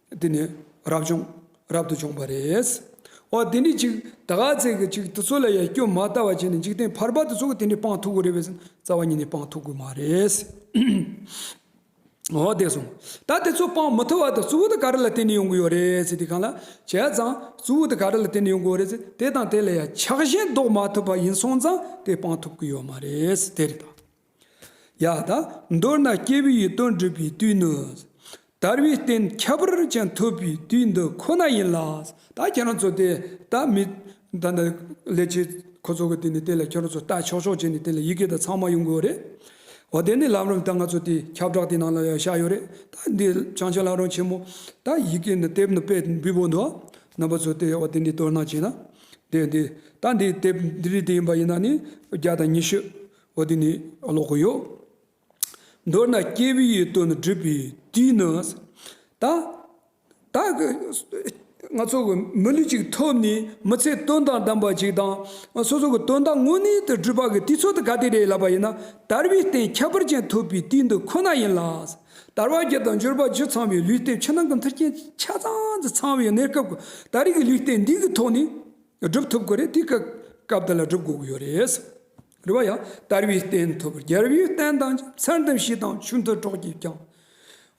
Speaker 1: འདི་ནི་རབ་བྱུང། རབ་ཏུ་བྱུང་བ་རེད། འོ་དེ་འདྲའི་ཅིག་ད་ག་ཚད་ཀྱི་ཅིག་དེ་ཚོ་ལ་ཡང་སྐྱོན་མ་ལྟ་བ་བྱས་ནས་འཇིག་རྟེན་བར་པ་དེ་ཚོ་གི་དེ་འདྲའི་སྤང་ཐུག་གི་རེད་བས་སམ་རྩ་བ་ཉིད་ནས་སྤང་ཐུག་གི་མ་རེད། འོ་དེ་སོང། ད་དེ་ཚོ་སྤང་མི་ཐུབ་བ་དང་གཙོ་བོ་དེ་ག་རེ་ལ་བརྟེན་ནས་ཡོང་གི་ཡོད་རེད་ཟེར་དེ་གང་ལ་བྱས་ཙང་གཙོ་བོ་དེ་ག་རེ་ལ་བརྟེན་ནས་ཡོང་གི་ཡོད་རེད་ཟེར་དེ་དང་དེ་ལ་ཡང་ཆགས་ཞེན་བཟློག་མ་ཐུབ་པ་ཡིན་སོང་ཙང་དེ་སྤང་ཐུབ་གི་ཡོད་མ་རེད་དེ་རེད་ད། ཡང་དག་མདོར་ན་སྐྱེས་བུ་ཡི་དོན་སྒྲུབ་པའི་དུས་ནི། དར་བའི་རྟེན་ཁྱད་པར་ཅན་ཐོབ་པའི་དུས་འདི་ཁོ་ན་ཡིན་ལ། ད་ཁྱེད་རང་ཚོ་དེ་ལྟ་མི། ད་ནི་ལས་བྱེད་ཁོ་ཚོ་གི་དེ་ནི་དེ་ལ་ཁྱེད་རང་ཚོ་ལྟ་ཆོག་ཆོག་བྱས་ནས་དེ་ལ་ཡི་གེ་དང་ཚང་མ་ཡོང་གི་རེད། འོ་དེ་ནི་ལམ་རིམ་ད་ང་ཚོ་དེ་ཁྱབ་བསྒྲགས་དེ་ནང་ལ་བཞག་ཡོད་རེད་ད་འདི་བྱང་ཆེན་ལགས་རང་ཆེན་མོ་ད་ཡི་གེ་འདི་དེབ་འདི་པད་འབུལ་བོ་འདུག་རྣམ་པ་ཚོ་དེ་འོ་དེ་འདི་དོར་སྣང་བྱས་ན། དེ་འདི་ད་འདི་དེབ་འདི་རིགས་དེ་ཡིན་པ་ཡིན་ན་ནི་བརྒྱ་དང་ཉི་ཤུ། འོ་དེ་ནི་ཀློག་གི་ཡོད། མདོར་ན་སྐྱེས་བུ་ཡི་དོན་བསྒྲུབ་པའི་དུས་ནི། ད་ལྟ་གི་ང་ཚོ་གི་མི་ལུས་ཅིག་ཐོབ་ནས་མི་ཚེ་དོན་དང་ལྡན་པ་ཞིག་དང་སོ་སོ་གི་དོན་དག་དངོས་གནས་དུ་བསྒྲུབ་པ་གི་དུས་ཚོད་དུ་ག་དུས་རེད་ལབ་པ་ཡིན་ན་དར་བའི་སྟེང་ཁྱད་པར་ཅན་ཐོབ་པའི་དུས་འདི་ཁོ་ན་ཡིན་ལ། དར་བ་རྒྱུ་དང་འབྱོར་པ་རྒྱུ་ཚང་བའི་ལུས་སྟེང་ཕྱི་ནང་གི་མཐུན་རྐྱེན་ཆ་ཚང་དུ་ཚང་བའི་གནས་སྐབས་ད་རེས་ཀྱི་ལུས་སྟེང་འདི་གི་ཐོག་ནས་བསྒྲུབ་ཐུབ་ཀྱི་རེད་དེ་གི་སྐབས་འདི་ལ་བསྒྲུབ་དགོས་ཀྱི་ཡོད་རེད། རེ་བ་ཡང་དར་བའི་རྟེན་ཐོབ་རྒྱལ་བའི་བསྟན་དང་མཚན་དང་ཞི་དང་ཆུ་མཐུན་གྲོགས་ཀྱིས་བསྐྱངས།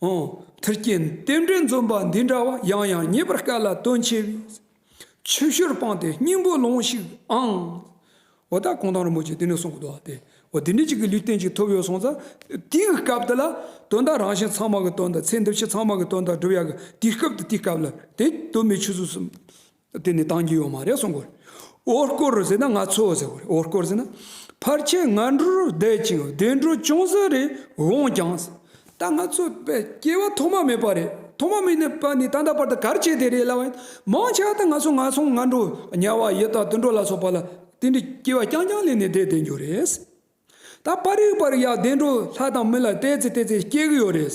Speaker 1: མཐུ་རྐྱེན་རྟེན་འབྲེལ་འཛོམས་པ་འདི་འདྲ་བ་ཡང་ཡང་རྙེད་པར་དཀའ་ལ་དོན་ཆེ་བས་ཆུ་བཞུར་སྤངས་ཏེ་སྙིང་པོ་ལོངས་ཤིག་ཨང། འོ་ད་གུང་ཐང་རིན་པོ་ཆེ་དེ་ནས་གསུང་གི་འདུག་ཨ་དེ་འོ་དེ་འདྲའི་ཅིག་གི་ལུས་རྟེན་ཅིག་ཐོབ་ཡོད་སོང་ཙང་དེའི་སྐབས་དེ་ལ་དོན་དག་རང་བཞིན་ཚང་མ་གི་དོན་དང་ཚེ་འདི་ཕྱི་ཚང་མ་གི་དོན་དག་སྒྲུབ་ཡག་གི་དེའི་སྐབས་དེ་དེའི་སྐབས་ལ་དེ་དོན་མེད་ཆུ་ཟོས་སུ་དེ་ནི་གཏང་རྒྱུ་ཡོད་མ་རེད་གསུང་གོ། འོ་སྐོར་ཟེར་ན་ང་ཚོ་ཟེར་གོ། འོ་སྐོར་ཟེར་ན། ཕར་ཆེར་ང་འགྲོ་རུ་བསྡད་ཅིང་བདེ་འགྲོ་ཅུང་ཟད་རེ་འོངས་ཀྱང། ད་ང་ཚོ་བས་སྐྱེ་བ་ཐོག་མ་མེད་པ་རེད། ཐོག་མ་མེད་ནས་པ་ནི་ད་ལྟ་བར་དུ་གར་བྱེད་དེ་རེད་ལབ་ཡིན། མང་ཆེ་བ་ད་ང་ཚོ་ང་སོང་ང་འགྲོ་ཉལ་བ་ཡོད་ད་དུད་འགྲོ་ལ་སོགས་པ་ལ་དེ་འདྲའི་སྐྱེ་བ་རྐྱང་རྐྱང་ལེན་ནས་བསྡད་བསྡད་འགྱོ་རེད། ད་པར་རིག་པར་ཡང་བདེ་འགྲོ་ལྷ་དང་མི་ལ་བལྟས་ཚེ་བལྟས་ཚེ་སྐྱེ་གི་ཡོད་རེད།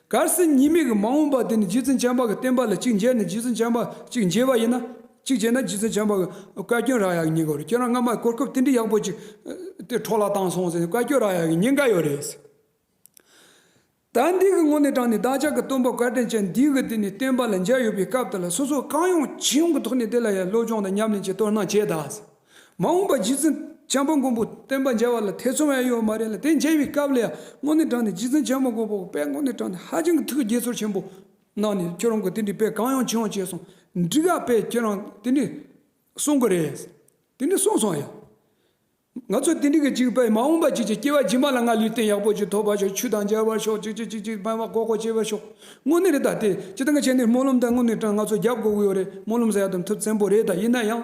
Speaker 1: གར་སིང་གཉིས་མེད་ཀྱི་མ་འོངས་པ་དེ་ནི་རྗེ་བཙུན་བྱམས་པ་གྱི་བསྟན་པ་ལ་གཅིག་མཇལ་ནས་རྗེ་བཙུན་བྱམས་པ་གཅིག་མཇལ་བ་ཡིན་ན། གཅིག་བྱས་ན་རྗེ་བཙུན་བྱམས་པ་གྱི་བཀའ་བཀྱོན་རག་ཡ་གི་ཉེན་ཀ་རེད་ཁྱེད་རང་སྔ་མ་གོ་སྐབས་དེ་འདྲི་ཡག་པོ་ཅིག་དེ་འཕྲོ་བརླག་བཏང་སོང་ཟེར་ནས་བཀའ་བཀྱོན་རག་ཡ་གི་ཉེན་ཀ་ཡོད་རེད་ཟེར། ད་འདི་གི་ངོ་ནས་དྲངས་ནས་བདག་ཅག་གི་སྟོན་པ་བཀའ་དྲིན་ཅན་འདི་གི་དེ་ནི་བསྟན་པ་ལ་མཇལ་ཡོད་པའི་སྐབས་དེ་ལ་སོ་སོ་གང་ཡོང་ཅི་ཡོང་གི་ཐོག་ནས་དེ་ལ་ཡང་སློབ་སྦྱོང་དང་ཉམས་ལེན་བྱེད་དོ་སྣང་བྱས་གདའ་ཟེར། མ་འོངས་པར་རྗེ་བཙུན་བྱམས་པ་མགོན་པོ་བསྟན་པ་མཇལ་བ་ལ་ཐེ་ཚོམ་ཡང་ཡོད་མ་རེད་ལ་དེ་མཇལ་བའི་སྐབས་ལ་ཡང་དངོས་གནས་དྲངས་ནས་རྗེ་བཙུན་བྱམས་པ་མགོན་པོ་དཔལ་དངོས་གནས་དྲངས་ནས་ཧ་ཅང་གི་ཐུགས་དགྱེས་ཚོར་ཆེན་པོ་གནང་ནས་ཁྱོད་རང་གི་དེ་འདྲའི་དཔེ་གང་ཡང་བྱུང་བྱས་སོང་འགྲིག་ག་དཔེ་ཁྱོད་རང་དེ་འདྲའི་གསུང་གི་རེད། དེ་འདྲའི་གསུང་སོང་ཡང། ང་ཚོ་དེ་འདྲི་གི་ཅིག་དཔེ་མ་འོངས་པ་ཅིག་ཅིག་སྐྱེ་བ་རྗེས་མ་ལ་ང་ལུས་རྟེན་ཡག་པོ་ཅིག་ཐོབ་པར་ཤོག་ཆུ་དང་མཇལ་བར་ཤོག་ཅིག་ཅིག་ཅིག་ཅིག་སྨན་བ་ཀོ་ཀོ་སྐྱེ་བར་ཤོག་དངོས་གནས་རེད་ད་དེ་ཅི་ད་ང་བྱས་ནས་སྨོན་ལམ་ད་དངོས་གནས་དྲངས་ང་ཚོ་རྒྱབ་དགོས་ཀྱི་ཡོད་རེད་སྨོན་ལམ་ཟེར་ཡག་དམ་ཐུབ་བཙན་པོ་རེད་ད་ཡིན་ན་ཡང།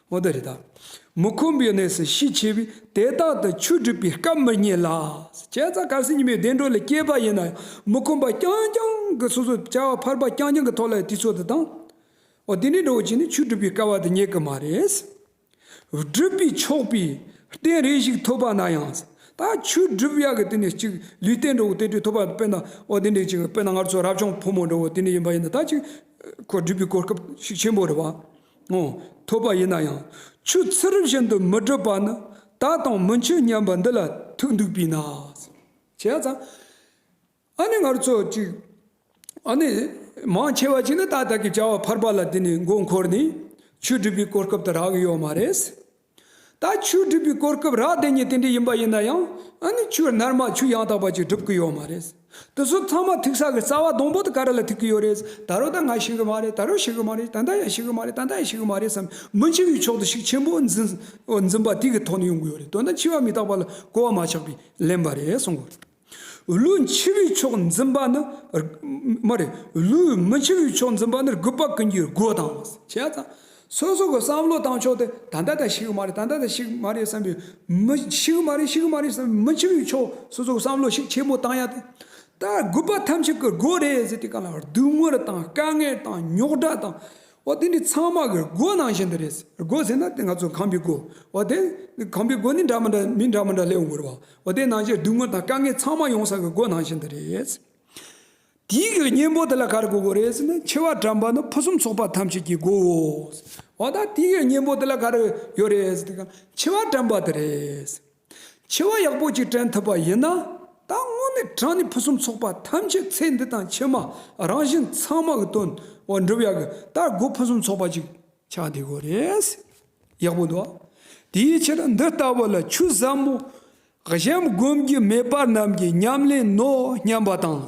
Speaker 1: མོ་དེ་རེད་ད། མི་ཁོམ་པའི་གནས་སུ་ཤི་ཆེ་བས་དེ་དག་ཏུ་ཆུ་སྒྲིབ་པའི་སྐབས་མི་རྙེད་ལ། ཁྱད་རྩ་གར་སེང་ཉི་མའི་བདེ་འགྲོ་ལས་སྐྱེས་པ་ཡིན་ན་ཡང་མི་ཁོམ་པ་རྐྱང་རྐྱང་གི་སོ་སོའི་བྱ་བ་ཕར་པ་རྐྱང་རྐྱང་གི་ཐོག་ལ་དུས་ཚོད་དུ་བཏང། འོ་དེ་འདྲའི་འགྲོ་བ་ཅིག་ནི་ཆུ་སྒྲིབ་པའི་སྐལ་བ་དུ་རྙེད་གི་མ་རེད། སྒྲུབ་པའི་ཆོག་པའི་རྟེན་རེ་ཞིག་ཐོབ་པ་ན་ཡང། ད་ཆུ་སྒྲིབ་གཡག་གི་དེ་ནས་ཅིག་ལུས་རྟེན་འགྲོ་བོ་དེ་འདྲའི་ཐོབ་པ་དཔེར་ན་འོ་དེ་འདྲའི་ཅིག་དཔེར་ན་སྔར་ཚོ་རབ་བྱུང་ཕོ་མོ་འགྲོ་བོ་དེ་འདྲ་ཡིན་པ་ཡིན་ན་ད་ཅིག་ཁོ་སྒྲིབ་པའི་གོ་སྐབས་ཤིག་ཆེན་པོ་རེད་བ། ངོ། ཐོབ་པ་ཡིན་ན་ཡང་ཆུ་ཚུད་རིམ་བཞིན་དུ་མི་འགྲུབ་པ་ནི་ད་དང་མི་འཆོས་སྙམ་པ་འདི་ལ་ཐུག་འདུག་པས་ན། བྱས་ཙང་ཨ་ནི་ངར་ཚོ་གཅིག་ཨ་ནི་མང་ཆེ་བ་ཅིག་ནི་ད་ལྟ་གི་བྱ་བ་འཕར་པ་ལ་དེ་ནས་མགོ་འཁོར་ནས་ཆུ་སྒྲིལ་པའི་གོ་སྐབས་དེ་རག་གི་ཡོད་མ་རེད། ད་ཆུ་སྒྲིབ་པའི་སྐོར་སྐབས་རགས་དེ་ཉིད་དེ་འདྲའི་ཡིན་པ་ཡིན་ན་ཡང་ཨ་ནི་ཆུ་ནར་མ་ཆུ་ཡང་དག་པ་ཅིག་སྒྲུབ་གི་ཡོད་མ་རེད། དེ་ཚོ་ཚང་མ་ཐིག་ས་གི་རྩ་བ་སྡོང་པོ་དེ་ག་རེ་ལ་ཐིག་གི་ཡོད་རེད། ད་རོ་ད་ང་ཤི་གི་མ་རེད་ད་རོ་ཤི་གི་མ་རེད་ད་ལྟ་ཡང་ཤི་གི་མ་རེད་ད་ལྟ་ཡང་ཤི་གི་མ་རེད་བསམ་མི་འཆི་བའི་ཕྱོགས་སུ་ཤུགས་ཆེན་པོ་འཛིན་འཛིན་པ་དེ་གི་ཐོག་ནས་ཡོང་གི་ཡོད་རེད་དོན་དག་འཆི་བ་མི་རྟག་པ་ལ་གོ་བ་མ་ཆགས་པས་ལན་པ་རེད་གསུངས་གི་རེད། ལུས་འཆི་བའི་ཕྱོགས་འཛིན་པ་ནི། མ་རེད། ལུས་མི་འཆི་བའི་ཕྱོགས་འཛིན་པ་ནི་རྒུད་པ་ཀུན་གྱི་སྒོ་དང། བྱས་ཙང། སོ་སོ་གི་བསམ་བློ་བཏང་ཆོག་དེ་ད་ལྟ་ད་ཞིག་གི་མ་རེད་ད་ལྟ་ད་ཞིག་གི་མ་རེད་བསམ་པའི། མི་ཞིག་གི་མ་རེད་ཞིག་གི་མ་རེད་བསམ་པའི་མི་འཆི་བའི་ཕྱོགས་སོ་སོ་གི་བསམ་བློ་ཞིག་ཆེན་པོ་བཏང་ཡ་དེ། ད་རྒུད་པ་ཐམས་ཅད་ཀྱི་སྒོ་རེད་ཟེར་དེ་ག་ལ་བར་སྡུག་བསྔལ་དང་དཀའ་ངལ་དང་རྙོག་དྲ་དང། འོ་དེ་འདྲའི་ཚང་མ་གི་སྒོ་ནང་བཞིན་དུ་རེད། སྒོ་ཟེར་ན་དེ་ང་ཚོ་ཁང་པའི་སྒོ། འོ་དེ་ཁང་པའི་སྒོ་ནི་འདྲ་མི་འདྲ་མི་འདྲ་མི་འདྲ་ལེའུ་མགུར་བ། འོ་དེ་ནང་བཞིན་སྡུག་བསྔལ་དང་དཀའ་ངལ་ཚང་མ་ཡོང་ས་གི་སྒོ་ནང་བཞིན་དུ་རེད། དེའི་གི་གཉེན་པོ་དེ་ལ་ག་རེ་གི་སྒོ་རེད་ཟེར་ན་འཆི་བ་དྲན་པ་ནི་ཕུན་སུམ་ཚོགས་པ་ཐམས་ཅད་ཀྱི་སྒོའོ། འོ་ད་དེའི་གི་གཉེན་པོ་དེ་ལ་ག་རེ་ཡོད་རེད་ཟེར་དུས་ཀྱང་འཆི་བ་དྲན་པ་དེ་རེད། འཆི་བ་ཡག་པོ་ཅིག་དྲན་ཐུབ་པ་ཡིན་ན། ད་དངོས་གནས་བྲང་ནི་ཕུན་སུམ་ཚོགས་པ་ཐམས་ཅད་ཚེ་འདི་དང་ཕྱི་མ་རང་བཞིན་ཚང་མ་གི་དོན་དབང་འགྲུབ་ཡག་གི་ད་སྒོ་ཕུན་སུམ་ཚོགས་པ་ཅིག་ཆགས་བསྡད་དགོས་རེད། ཡག་པོ་འདུག་དེའི་ཕྱིར་འདི་ལྟ་བུ་ལ་ཆུ་ཟབ་མོ་གཞན་བསྒོམ་རྒྱུ་མེད་པར་རྣམས་ཀྱི་ཉམས་ལེན་ནོ་སྙམ་པ་དང།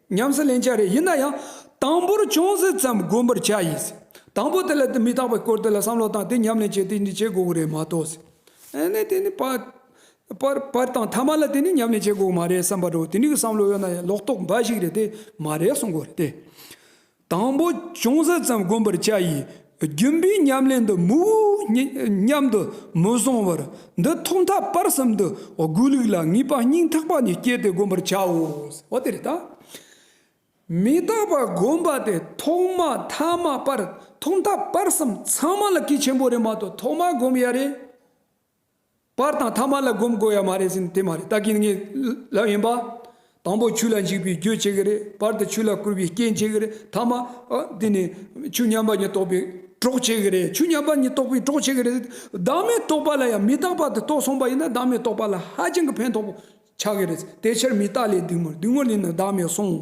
Speaker 1: ཉམས་སུ་ལེན་བྱ་རེ་ཡིན་ན་ཡང། དང་པོར་ཅུང་ཟད་ཙམ་བསྒོམ་པར་བྱ་ཡིན། དང་པོ་དེ་ལ་མི་རྟག་པའི་སྐོར་དེ་ལ་བསམ་བློ་བཏང་སྟེ་ཉམས་ལེན་བྱེད་དེ་ནི་བྱེད་དགོས་པོ་རེད་མ་གཏོགས། ནི་དེ་ནི་པར་པར་དང་ཐ་མ་ལ་དེ་ནི་ཉམས་ལེན་བྱེད་དགོས་པོ་མ་རེད་བསམ་པ་འགྲོ་དེ་ནི་གི་བསམ་བློ་ཡོད་ན་ཡང་ལོག་རྟོག་འབའ་ཞིག་རེད་དེ་མ་རེད་གསུང་དགོས་རེད་དེ། དང་པོ་ཅུང་ཟད་ཙམ་བསྒོམ་པར་བྱ་ཡིས། རྒྱུན་པའི་ཉམས་ལེན་འདི་མུ་མཉམ་དུ་མི་བཟང་བར་འདི་ཐོག་མཐའ་བར་གསུམ་དུ་སྒོས་ལུགས་ལ་ངེས་པ་སྙིང་ཐག་པ་ནས་བསྐྱེད་དེ་བསྒོམ་པར་བྱའོ། མི་རྟག་པར་བསྒོམ་པ་དེ་ཐོག་མ་ཐ་མ་བར་ཐོག་མཐའ་བར་གསུམ་ཚང་མ་ལ་གེགས་ཆེན་པོ་རེ་མ་གཏོགས་ཐོག་མར་བསྒོམ་ཡ་རེ། པར་དང་ཐ་མ་ལ་སྒོམ་དགོས་ཡ་མ་རེད་ཟེར་ནས་དེ་མ་རེད་ད་གིན་ངའི་ལབ་ཡིན་པ། དང་པོ་ཆུ་ལ་འཇིགས་པའི་རྒྱུ་བྱེད་ཀྱི་རེད་པར་དུ་ཆུ་ལ་བསྐུར་བའི་རྐྱེན་བྱེད་ཀྱི་རེད་ཐ་མ། དེ་ནས་ཆུ་མཉམ་པ་ཉིད་རྟོགས་པའི་གྲོགས་བྱེད་ཀྱི་རེད་ཆུ་མཉམ་པ་ཉིད་རྟོགས་པའི་གྲོགས་བྱེད་ཀྱི་རེད་བདག་མེད་རྟོགས་པ་ལ་ཡང་མི་རྟག་པར་དུ་རྟོགས་སོང་པ་ཡིན་ན་བདག་མེད་རྟོགས་པ་ལ་ཧ་ཅང་གི་ཕན་ཐོགས་པོ་ཆགས་ཀྱི་རེད་དེ་ཕྱིར་མི་རྟག་ལས་སྡུག་མོ་སྡུག་མོ་ལས་ནི་བདག་མེད་སོང།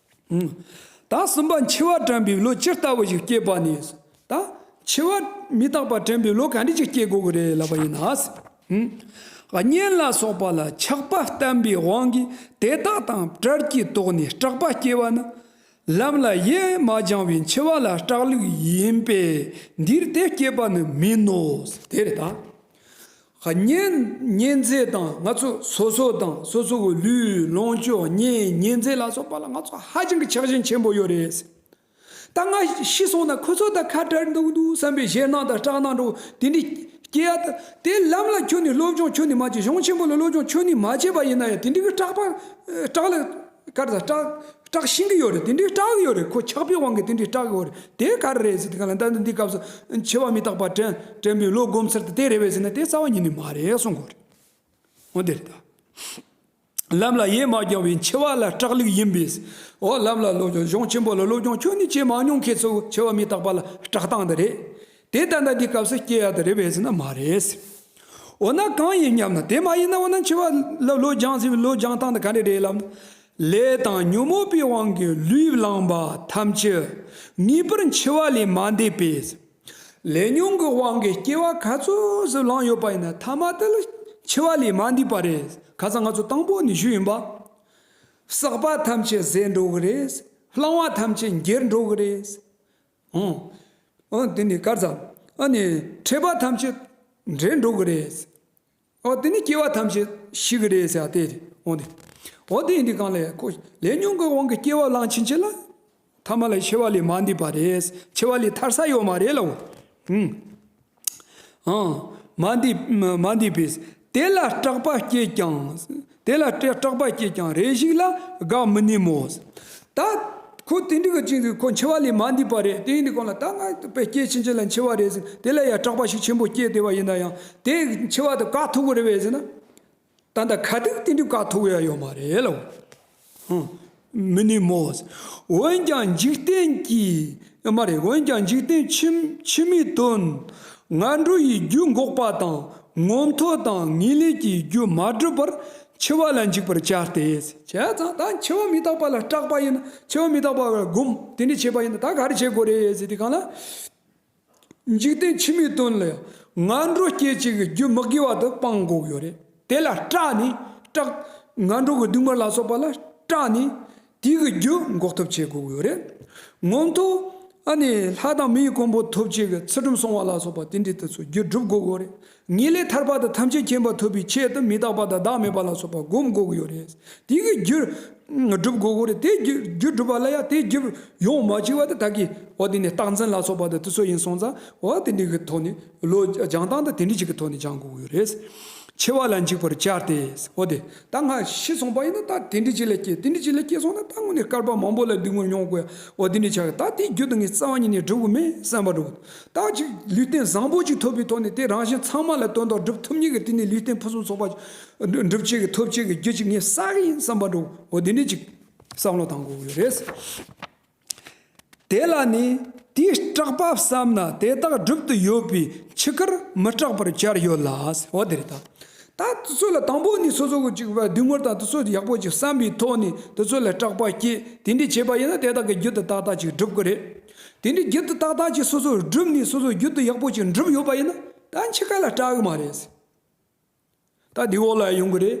Speaker 1: དང་གསུམ་པ་འཆི་བ་དྲན་པའི་བློ་ཇི་ལྟ་བུ་ཞིག་སྐྱེས་པ་ནས་བཟུང་དང། འཆི་བ་མི་རྟག་པ་དྲན་པའི་བློ་ག་འདྲི་ཞིག་སྐྱེ་དགོས་ཀྱི་རེད་ལབ་པ་ཡིན་ན། གཉེན་ལ་སོགས་པ་ལ་ཆགས་པ་བསྟན་པའི་དབང་གིས་དེ་དག་དང་བྲལ་གྱི་དོགས་ནས་སྐྲག་པ་སྐྱེ་བ་ན། ལམ་ལ་ཡེ་མ་སྦྱང་བའི་འཆི་བ་ལ་སྐྲག་ལུགས་ཡིན་པས་འདིར་དེ་སྐྱེས་པ་ནི་མིན་ནོ། དེ་ལྟ་བརྙན་རྩལ་དང་ང་ཚོ་སོ་སོ་དང་སོ་སོ་གི་ལུས་ལོངས་སྤྱོད་བརྙན་བརྙན་རྩལ་ལ་སོགས་པ་ལ་ང་ཚོ་ཧ་ཅང་གི་ཆགས་ཞེན་ཆེན་པོ་ཡོད་རེད། ད་ང་ཤི་སོང་ན་ཁོ་ཚོ་དང་ཁ་བྲལ་འདུག་འདུག་བསམ་པའི་ཞེད་སྣང་དང་སྐྲག་སྣང་འགྲོ་དེ་འདྲའི་སྐྱེ་ཡ། དེ་ལམ་ལ་ཁྱོད་ནི་སློབ་སྦྱོང་ཁྱོད་ནི་མ་བྱས་གཞུང་ཆེན་པོ་ལ་སློབ་སྦྱོང་ཁྱོད་ནི་མ་བྱས་པ་ཡིན་ན་ཡང་དེ་འདྲའི་སྐྲག་པ་སྐྲག་ལ། གར་དང་སྐྲག། སྐྲག་ཤིང་གི་ཡོད་རེད་དེ་འདྲའི་སྐྲག་གི་ཡོད་རེད་ཁོ་ཆགས་པའི་དབང་གིས་དེ་འདྲའི་སྐྲག་གི་འོ་རེད་དེ་གར་རེད་ཟེར་དེ་ག་ལ་འདའ་འདི་འདི་སྐབས་སུ་འཆི་བ་མི་རྟག་པ་དྲན་དྲན་པའི་བློ་སྒོམ་ཚར་དེ་རེད་བས་ཟེར་ན་དེ་རྩ་བ་ཉིད་ནས་མ་རེད་གསུང་དགོས་རེད། འོ་དེ་ལྟར། ལམ་ལ་ཡེ་མ་བསྐྱང་བའི་འཆི་བ་ལ་སྐྲག་ལུགས་ཡིན་པས། འོ་ལམ་ལ་སློབ་སྦྱོང་གཞུང་ཆེན་པོ་ལ་སློབ་སྦྱོང་ཁྱོད་ནི་བྱེད་མ་མྱོང་མཁན་ཚོའི་འཆི་བ་མི་རྟག་པ་ལ་སྐྲག་སྟངས་འདི་རེད། དེ་ལྟ་ན་འདིའི་སྐབས་སུ་སྐྱེ་བ་དང་རེ་བའི་ཚིག་ན་མ་རེད། འོ་ན་གང་ཡིན་སྙམ་ན་དེ་མ་ཡིན་ན་འོ་ན་འཆི་བ་ལ་ལོ་སྦྱང་ཟེར་བའི་ལོ་སྦྱང་སྟངས་དང་ག་འདྲ་རེད་ལབ། ལས་དང་ཉོན་མོངས་པའི་དབང་གིས་ལུས་བླངས་པ་ཐམས་ཅད་ངེས་པར་འཆི་བ་ལས་མ་འདས་པས། ལས་ཉོན་གྱི་དབང་གིས་སྐྱེ་བ་ག་ཚོད་ཟིག་བླངས་ཡོད་པ་ཡིན་ན་མཐའ་མ་དེ་ལ་འཆི་བ་ལས་མ་འདས་པ་རེད། ཁ་སང་ང་ཚོ་དང་པོ་ནས་ཞུས་ཡིན་པ། བསགས་པ་ཐམས་ཅད་ཟད་འགྲོ་གི་རེད། བླངས་བ་ཐམས་ཅད་འགྱེལ་འགྲོ་གི་རེད། ཨང། ཨོ་དེ་ནི་དཀར་གཙང། ཨ་ནི་འཕྲད་པ་ཐམས་ཅད་འབྲལ་འགྲོ་གི་རེད། ཨོ་དེ་ནི་སྐྱེ་བ་ཐམས་ཅད་ཤི་གི་རེད་ཟེར་བ་དེ་འོང་དེ། ཨོ་དེ་འདི་གང་ལས་ཁོ་ལས་ཉུང་གི་དབང་གིས་སྐྱེ་བ་བླངས་ཕྱིན་ཆད་ལ། ཐ་མ་ལ་ཆེ་བ་ལས་མ་འདས་པ་རེད། ཆེ་བ་ལས་ཐར་ས་ཡོད་མ་རེད་ལ་འོ། མ་འདས་པས། དེ་ལ་སྐྲག་པ་སྐྱེས་ཀྱང། དེ་ལ་སྐྲག་པ་སྐྱེས་ཀྱང་རེ་ཞིག་ལ་དགའ་མི་ནུས་མོ། ད་ཁོ་དེ་འདྲི་གི་ཅི་འདུག་ཁོ་འཆི་བ་ལས་མ་འདས་པ་རེད་དེ་ཡིན་དུས་གང་ལ་ད་ང་དཔེ་སྐྱེས་ཕྱིན་ཅི་ལ་འཆི་བ་རེད་ཟེར་དེ་ལ་ཡང་སྐྲག་པ་ཞིག་ཆེན་པོ་སྐྱེས་བསྡད་པ་ཡིན་ན་ཡང་དེ་འཆི་བ་དང་དཀའ་ཐུབ་པོ་རེད་བས་ཟེར་ན། ད་ལྟ་ཁ་ཐུག་དེ་འདྲའི་དཀའ་ཐུག་ཡ་ཡོད་མ་རེད་ལ། མི་ནུས་མོད། འོན་ཀྱང་འཇིག་རྟེན་གྱི། མ་རེད་འོན་ཀྱང་འཇིག་རྟེན་ཕྱི་མའི་དོན། ང་འགྲོ་ཡི་རྒྱུ་འགོག་པ་དང་ངོ་མཐོ་དང་ངེས་ལེགས་ཀྱི་རྒྱུ་མ་བསྒྲུབ་པར་འཆི་བ་ལ་འཇིགས་པར་བྱ་སྟེ། བྱས་ཙང་ད་འཆི་བ་མི་རྟག་པ་ལ་སྐྲག་པ་ཡིན་ན་འཆི་བ་མི་རྟག་པ་བར་སྒོམ་དེ་འདྲས་བྱས་པ་ཡིན་ན་ད་ག་རེ་བྱེད་དགོས་རེད་ཟེར་དུས་གང་ལ། འཇིག་རྟེན་འཆི་མེད་དོན་ལ་ཡང་ང་འགྲོ་སྐྱེ་བྱེད་ཀྱི་རྒྱུ་མི་དགེ་བ་དུ་སྤངས་འགོག་ཡོད་རེད་དེ་ལ་སྐྲག་ནས་སྐྲག། ང་འགྲོ་གི་སྡུག་བསྔལ་ལ་སོགས་པ་ལ་སྐྲག་ནས་དེ་གི་རྒྱུ་འགོག་ཐུབ་བྱེད་འགོག་ཡོད་རེད། ངོ་མཐོ། ཨ་ནི་ལྷ་དང་མིའི་གོང་བུ་ཐུབ་བྱེད་ཀྱི་ཚུལ་ཁྲིམས་སྲུང་བ་ལ་སོགས་པ་དེ་འདྲའི་དུས་སུ་རྒྱུ་སྒྲུབ་འགོག་ཡོད་རེད། ངེས་ལེགས་ཐར་པ་དང་ཐམས་ཅད་མཁྱེན་པ་ཐོབ་པའི་ཆེད་དུ་མི་རྟག་པ་དང་བདག་མེད་པ་ལ་སོགས་པ་བསྒོམ་དགོས་ཀྱི་ཡོད་རེད། དེ་གི་རྒྱུ་བསྒྲུབ་དགོས་ཀྱི་རེད། དེ་རྒྱུ་བསྒྲུབ་པ་ལ་ཡང་དེ་རྒྱུ་ཡོང་མ་བཅུག་བ་དེ་དག་གི་འོ་དེ་ནས་རྟགས་འཛིན་ལ་སོགས་པ་དེ་དུས་ཚོད་ཡིན་སོང་ཙང་འོ་དེ་འདྲི་གི་ཐོག་ནས་ལོ་སྦྱང་སྟངས་དང་དེ་འདྲི་གི་ཐོག་ནས་སྦྱང་དགོས་ཀྱི་ཡོད་རེད། འཆི་བ་ལ་འཇིགས་པར་བྱར་ཏེ་འོ་དེ་ད་ང་ཤི་སོང་པ་ཡིན་ན་ད་དེ་འདྲི་གཅིག་ལ་སྐྱེས་དེ་འདྲི་གཅིག་ལ་སྐྱེས་སོང་ན་ད་དངོས་ནས་སྐལ་པ་མང་པོ་ལ་སྡུག་བསྔལ་མྱོང་དགོས་ཡ་འོ་དེ་འདྲི་བྱ་གི་ད་དེ་རྒྱུ་དང་ངས་རྩ་བ་ཉིད་ནས་བསྒྲུབ་གི་མེད་བསམ་པ་འགྲོ་གི་འདུག་རྟགས་གཅིག་ལུས་རྟེན་བཟང་པོ་གཅིག་ཐོབ་པའི་ཐོག་ནས་དེ་རང་བཞིན་ཚང་མ་ལ་དོན་དག་སྒྲུབ་ཐུབ་ཉིན་གྱི་དུས་ནས་ལུས་རྟེན་ཕུན་སུམ་ཚོགས་པ་འགྲུབ་བྱེད་ཀྱི་ཐོབ་བྱེད་ཀྱི་རྒྱུ་གཅིག་ངས་བསགས་ཀྱི་ཡིན་བསམ་པ་འགྲོ་འོ་དེ་འདྲའི་གཅིག་བསམ་བློ་བཏང་དགོས་ཀྱི་རེད། དེ་ལ་ནི་དེའི་སྐྲག་པ་བསམ་ན་དེ་དག་སྒྲུབ་ཏུ་ཡོད་པའི་འཆི་ཁར་མི་སྐྲག་པར་གྱར་ཡོད་ལ་འོ་དེ་རེད་ད། ད་དེ་ཚོ་ལ་དང་པོ་ནས་སོ་སོ་གཅིག་བདུན་ངོར་དང་དེ་ཚོ་ཡག་པོ་གཅིག་བསམ་པའི་ཐོག་ནས་དེ་ཚོ་ལ་སྐྲག་པ་སྐྱེས་དེ་འདྲའི་བྱས་པ་ཡིན་ན་དེ་དག་གི་རྒྱུད་དུ་ཏག་ཏག་ཅིག་སྒྲུབ་ཀྱི་རེད། དེ་འདྲའི་རྒྱུད་དུ་ཏག་ཏག་ཅིག་སོ་སོར་བསྒྲུབས་ནས་སོ་སོར་རྒྱུད་དུ་ཡག་པོ་ཅིག་འགྲུབ་ཡོད་པ་ཡིན་ན་ད་འཆི་ཁ་ལ་སྐྲག་གི་མ་རེད། ཟེར། ད་འདི་འོག་ལ་ཡང་ཡོང་གི་རེད།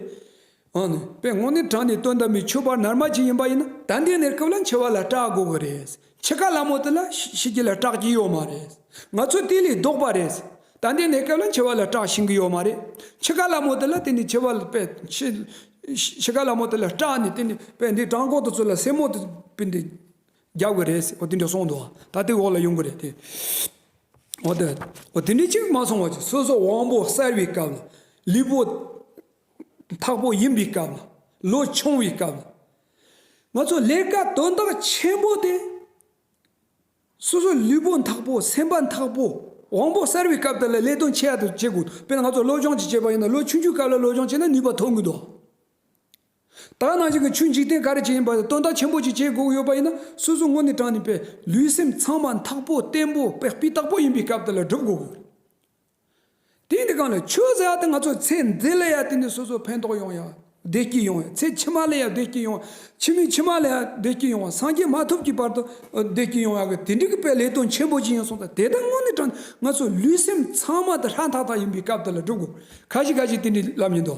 Speaker 1: ཨང་ནི། པའི་ངོགས་ནས་དྲངས་ནས་དོན་དམ་པའི་ཆོས་པར་ནར་མ་གྱིས་ཡིན་པ་ཡིན་ན་ད་འདིའི་གནས་སྐབས་ལ་འཆི་བ་ལ་སྐྲག་དགོས་གི་རེད། འཆི་ཁ་སླ་མོ་དེ་ལ་ཤི་གི་ལ་སྐྲག་གི་ཡོད་མ་རེད། ང་ཚོ་དེ་ལས་ལྡོག་པ་རེད། ད་འདིའི་གནས་སྐབས་ལ་འཆི་བ་ལ་སྐྲག་ཤིང་གི་ཡོད་མ་རེད། འཆི་ཁ་སླ་མོ་དེ་ལ་དེ་ནི་འཆི་བ་ལ་པའི་འཆི། འཆི་ཁ་སླ་མོ་དེ་ལ་སྐྲག་ནས་དེ་ནི་པའི་འདི་བྲང་ཁོག་ཏུ་ཚུད་ལ་སེན་མོ་དེ་པའི་འདི། རྒྱག་དགོས་རེད་ཟེར་འོ་དེ་འདྲ་སོང་འདུག་ད་ལྟའི་འོག་ལ་ཡོང་གི་རེད་དེ། འོ་དེ་འོ་དེ་འདྲ་གཅིག་མ་སོང་བ་ཅིག་སོ་སོ་དབང་པོ་གསར་བའི་སྐབས་ལ་ལུས་པོ། འཐག་པོ་ཡིན་པའི་སྐབས་ལ་ལོ་ཆུང་བའི་སྐབས་ལ། ང་ཚོ་ལས་ཀ་དོན་དག་ཆེན་པོ་དེ། སོ་སོ་ལུས་པོ་འཐག་པོ་སེམས་པ་འཐག་པོ་དབང་པོ་གསར་བའི་སྐབས་དེ་ལ་ལས་དོན་ཆེ་ཡག་དེ་བྱེད་དགོས་དཔེར་ན་ང་ཚོ་སློབ་སྦྱོང་ཅིག་བྱེད་པ་ཡིན་ན་ལོ་ཆུང་ཆུང་སྐབས་ལ་སློབ་སྦྱོང་བྱས་ན་ནུས་པ་ཐོན་གི་འདུག། དག་སྣང་ཅན་གྱི་ཆོས་འཇིག་རྟེན་ག་རེ་ཅི་ཡིན་པ་དེ་སྟོན་ཟླ་ཆེན་པོ་ཅིག་བྱེད་དགོས་ཀྱི་ཡོད་པ་ཡིན་ན་སོ་སོ་སྔོན་ནས་དྲངས་ནས་པའི་ལུས་སེམས་ཚང་མ་འཐག་པོ་བརྟན་པོ་པའི་སྤི་རྟག་པོ་ཡིན་པའི་སྐབས་དེ་ལ་སྒྲུབ་དགོས་ཀྱི་ཡོད། དེ་འདི་གང་ལས་ཆོས་ཟེར་བ་དེ་ང་ཚོའི་ཚེ་འདི་ལ་ཡང་དེ་ནས་སོ་སོ་ཕན་ཐོགས་ཡོང་ཡ་བདེ་སྐྱིད་ཡོང་ཡ་ཚེ་ཕྱི་མ་ལ་ཡང་བདེ་སྐྱིད་ཡོང་ཕྱི་མའི་ཕྱི་མ་ལ་ཡང་བདེ་སྐྱིད་ཡོང་བ་སངས་རྒྱས་མ་ཐོབ་ཀྱི་བར་དུ་བདེ་སྐྱིད་ཡོང་ཡ་གི་དེ་འདྲིག་གི་པའི་ལས་དོན་ཆེན་པོ་ཅིག་ཡིན་གསུངས་ད་དེ་དག་སྔོན་ནས་དྲངས་ནས་ང་ཚོའི་ལུས་སེམས་ཚང་མ་དེ་ཧྲ་འཐག་འཐག་ཡིན་པའི་སྐབས་དེ་ལ་སྒྲུབ་དགོས་ག་ཞིག་ག་ཞིག་དེ་འདྲིའི་ལམ་ཡིན་དོ།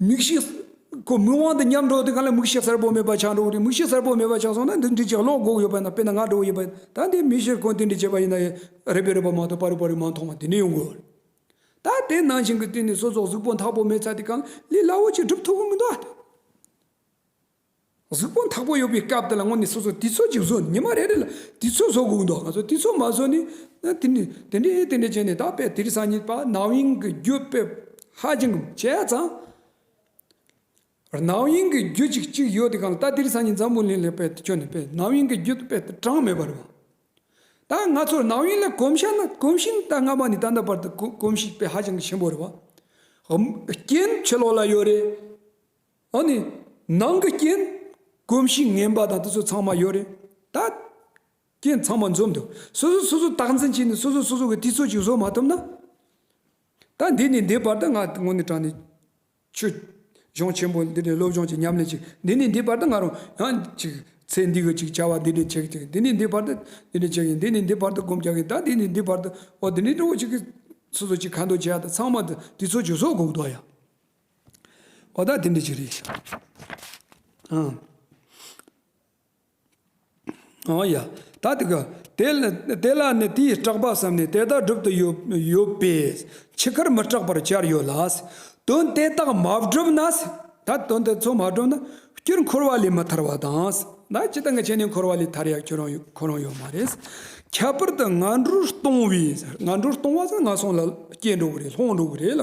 Speaker 1: མིག་ཤེས། ཁོ་མི་དབང་དུ་ཉམས་འགྲོ་དེ་ག་ལ་མིག་ཤེས་གསལ་པོ་མེད་པ་ཆགས་འགྲོ་བ་རེད་མིག་ཤེས་གསལ་པོ་མེད་པ་ཆགས་སོང་ན་འདི་འདྲི་བྱེད་བློ་འགོག་ཡོད་པ་ཡིན་ན་དཔེར་ན་ང་འགྲོ་བ་ཡིན་པ་ཡིན་ད་འདི་མི་ཤེས་ཁོ་འདི་འདྲི་བྱེད་པ་ཡིན་ན་ཡིན་རེད་པས་རེད་པ་མ་གཏོགས་པ་རེད་པ་རེད་མ་མཐོང་བ་དེ་འདྲི་ཡོང་དགོས་ད་དེ་ནང་བཞིན་གྱི་དེ་ནི་སོ་སོགས་གཟུགས་པོ་འཐག་པོ་མེད་ཚ་དེ་གང་ལས་སླ་བོ་ཆེ་འགྲུབ་ཐུབ་ཀྱི་མི་འདུག་ཨ། གཟུགས་པོ་འཐག་པོ་ཡོད་པའི་སྐབས་དེ་ལ་དངོས་ནས་སོ་སོ་དུས་ཚོད་ཅིག་བཟོ་ཉི་མ་རེ་རེ་ལ་དུས་ཚོད་བཟོ་དགོས་འདུག་ང་ཚོ་དུས་ཚོད་མ་བཟོ་ནས་དེ་འདྲས་དེ་འདྲས་བྱས་ནས་ད་དཔེ་དེ་རིང་སང་ཉིན་པ་ནག་དབྱིངས་ཀྱི་རྒྱུད་དཔེ་ཧ་ཅང་བྱས་ཙང། ནག་དབྱིངས་ཀྱི་རྒྱུད་ཅིག་གཅིག་ཡོད་དེ་གང་ལྟར་དེ་རིང་སང་ཉིན་འཛམ་བུ་གླིང་ལ་དཔེ་དེ་ཁྱོན་ནས་དཔེ་ནག་དབྱིངས་ཀྱི་རྒྱུད་དཔེ་དེ་གྲངས་མེད་པ་རེད། ད་ང་ཚོར་ནག་དབྱིངས་ལ་གོམས་ཤ་ན་གོམས་ཤིང་ད་སྔ་མ་ནས་ད་ལྟ་བར་དུ་གོམས་ཤིང་དཔེ་ཧ་ཅང་གི་ཆེན་པོ་རེད་བ། རྐྱེན་ཆོས་ལོག་ལ་ཡོད་རེད། ཨ་ནི། ནང་གི་རྐྱེན། གོམས་གཤིས་ངན་པ་དང་དེ་ཚོ་ཚང་མ་ཡོད་རེད་ད། རྐྱེན་ཚང་མ་འཛོམས་འདུག་སོ་སོས་སོ་སོ་བརྟག་འཛིན་བྱས་ནས་སོ་སོས་སོ་སོ་གི་དུས་ཚོད་ཅིག་བཟོ་མ་ཐུབ་ན། ད་འདི་ནས་འདི་བར་དུ་ང་ངོ་ནས་དྲན་ནས། ཆོས་གཞུང་ཆེན་པོ་འདི་ནས་སློབ་སྦྱོང་ཅིག་ཉམས་ལེན་ཅིག་འདི་ནས་འདི་བར་དུ་ང་རང་ཡང་ཅིག་ཚེ་འདི་གི་ཅིག་བྱ་བ་འདི་ནས་བྱེད་ཅིག་འདི་ནས་འདི་བར་དུ་འདི་ནས་བྱེད་ཀྱིན་འདི་ནས་འདི་བར་དུ་སྒོམ་རྒྱག་གིན་ད་འདི་ནས་འདི་བར་དུ་འོ་འདི་ནས་འགྲོ་གི་ཅིག་གིས། སོ་སོ་ཅིག་ག་འདོད་བྱས་ཡག་ད་ཚང་མ་དུས་ཚོད་ཅིག་བཟོ་དགོས་འདུག་ཡ། གོ་བརྡ་དེ་འདྲ་ཞིག་རེད་ཨང། ཨོ་ཡ། ད་དེ་ག། དེ་ལ་ནི་དེའི་སྐྲག་པ་བསམ་ནས་དེ་ལྟར་བསྒྲུབ་ཏུ་ཡོད་པས་འཆི་ཁར་མི་སྐྲག་པར་བྱར་ཡོད་ལ། དོན་དེ་དག་མ་བསྒྲུབས་ན། ད་དོན་དེ་ཚོ་མ་བསྒྲུབས་ན། སྐྱུར་འཁོར་བ་ལས་མི་ཐར་བ་དང། ད་ཇི་ལྟར་འཆི་ནས་འཁོར་བ་ལས་ཐར་ཡག་ཁྱོད་རང་ཁོ་རང་ཡོད་མ་རེད། ཁྱད་པར་དུ་ང་འགྲོར་གཏོང་བས། ང་འགྲོར་གཏོང་བ་ཟེར་ན་ང་སོང་ལ་སྐྱེས་འགྲོ་གི་རེད་ལྷོང་འགྲོ་གི་རེད་ལ།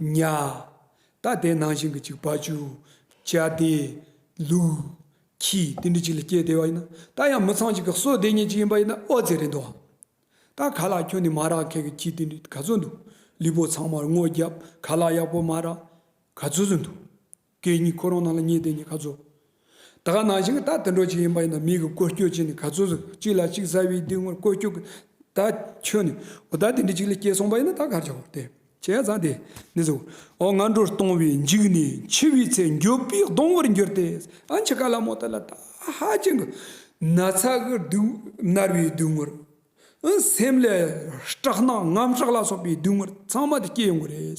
Speaker 1: ཉྭ། ད་དེ་ནང་བཞིན་གྱི་གཅིག་བ་ཅུ། བྱ་སྡེ། ལུག། ཁྱི། དེ་འདྲ་གཅིག་ལ་སྐྱེས་བདེ་བ་ཡིན་ན། ད་ཡང་མི་ཚང་གཅིག་གི་གསོ་བདེ་ཉེ་གཅིག་ཡིན་པ་ཡིན་ན་ཨོ་རྩེད་རེད་འདུག་ཨང། ད་ག་ལ་ཁྱོད་ནི་མ་རག་མཁན་གྱི་ཁྱི་དེ་འདྲ་ག་ཚོད་འདུག་ལུས་པོ་ཚང་མར་སྔོ་རྒྱབ་ག་ལ་ཡག་པོ་མ་རག་ག་ཚོད་ཚོད་འདུག། སྐད་གཉིས་ཁོ་རང་ནང་ལ་ཉེ་དེ་ནི་ག་ཚོད། ད་ག་ནང་བཞིན་གྱི་ད་དུད་འགྲོ་ཅིག་ཡིན་པ་ཡིན་ན་མིག་གི་བཀོལ་སྤྱོད་ཅིག་ནི་ག་ཚོད་ཟིག་གཅིག་ལ་གཅིག་གཟའ་བའི་དུས་ངོར་བཀོལ་སྤྱོད་ཀྱི་ད་ཁྱོད་ནི་འོ་ད་དེ་འདྲི་གཅིག་ལ་སྐྱེས་སོང་པ་ཡིན་ན་ད་གར་ཆགས་དེ་ཁྱེད་ཡང་ཚང་དེ་ནི་ཟེར་བའོ་ང་འགྲོ་གཏོང་བའི་འཇིགས་ནས་འཆི་བའི་ཚེ་འགྱོད་པའི་གདོང་བར་འགྱུར་ཏེ་ཨ་འཆི་ཁ་ལ་མོ་ད་ལ་ད་ཧ་ཅང་གི་ན་ཚ་གི་དུས་མནར་བའི་དུས་ངོར་སེམས་ལས་སྐྲག་སྣང་ངམ་སྐྲག་ལ་སོགས་པའི་དུས་ངོར་ཚང་མ་དེ་སྐྱེས་ཡོང་གི་རེད།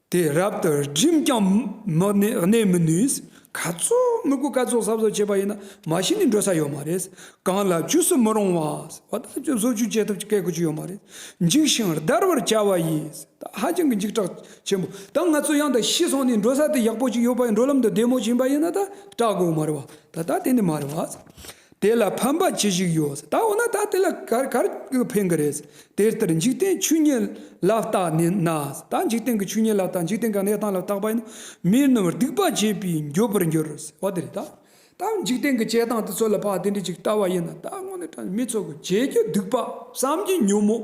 Speaker 1: དེ་རབ་ཏུ་བསྒྲིམས་ཀྱང་མི་གནས་མི་ནུས། ག་ཚོད་མི་དགོས་ག་ཚོད་ཟབ་ཟོབ་བྱས་པ་ཡིན་ན་མ་གཞི་ནས་འགྲོ་ས་ཡོད་མ་རེད། གང་ལ་བཅུ་སུ་མི་རུང་བ་བ་ད་ཅུ་སོ་བཅུ་བྱེད་ཐུབ་སྐད་གོ་ཅི་ཡོད་མ་རེད། འཇིགས་ཤིང་བརྡར་བར་བྱ་བ་ཡིན་ད་ཧ་ཅང་གི་འཇིགས་སྐྲག་ཆེན་པོ་ད་ང་ཚོ་ཡང་ད་ཤི་སོང་ནས་འགྲོ་ས་དེ་ཡག་པོ་ཅིག་ཡོད་པ་ཡིན་འགྲོ་ལམ་དུ་བདེ་མོ་བྱིན་པ་ཡིན་ན་ད་སྐྲག་དགོས་མ་རེད་བ་ད་ད་དེ་ནི་མ་རེད་བ། དེ་ལ་ཕན་པ་ཅི་ཞིག་ཡོད། ད་འོ་ན་ད་དེ་ལ་གར་གར་གྱིས་ཕན་གི་རེད། དེ་ལྟར་འཇིག་རྟེན་ཆོས་ཉིད་ལ་བརྟགས་ནས་ན། ད་འཇིག་རྟེན་གྱི་ཆོས་ཉིད་ལ་བརྟགས་འཇིག་རྟེན་གང་གནས་སྟངས་ལ་བརྟགས་པ་ཡིན་ནོ། མིའི་རྣམ་པར་སྡིག་པ་བྱེད་པས་འགྱོད་པར་འགྱུར་རོ། འོ་དེ་རེད་ད། ད་འཇིག་རྟེན་གྱི་བྱེད་སྟངས་དེ་ཚོ་ལ་བརྟགས་དེ་འདྲ་ཅིག་བལྟ་བ་ཡིན་ན། ད་དངོས་གནས་དྲང་མི་ཚོགས་ཀྱི་བྱེད་རྒྱུ་སྡིག་པ་བསམ་གྱིས་ཉོན་མོད།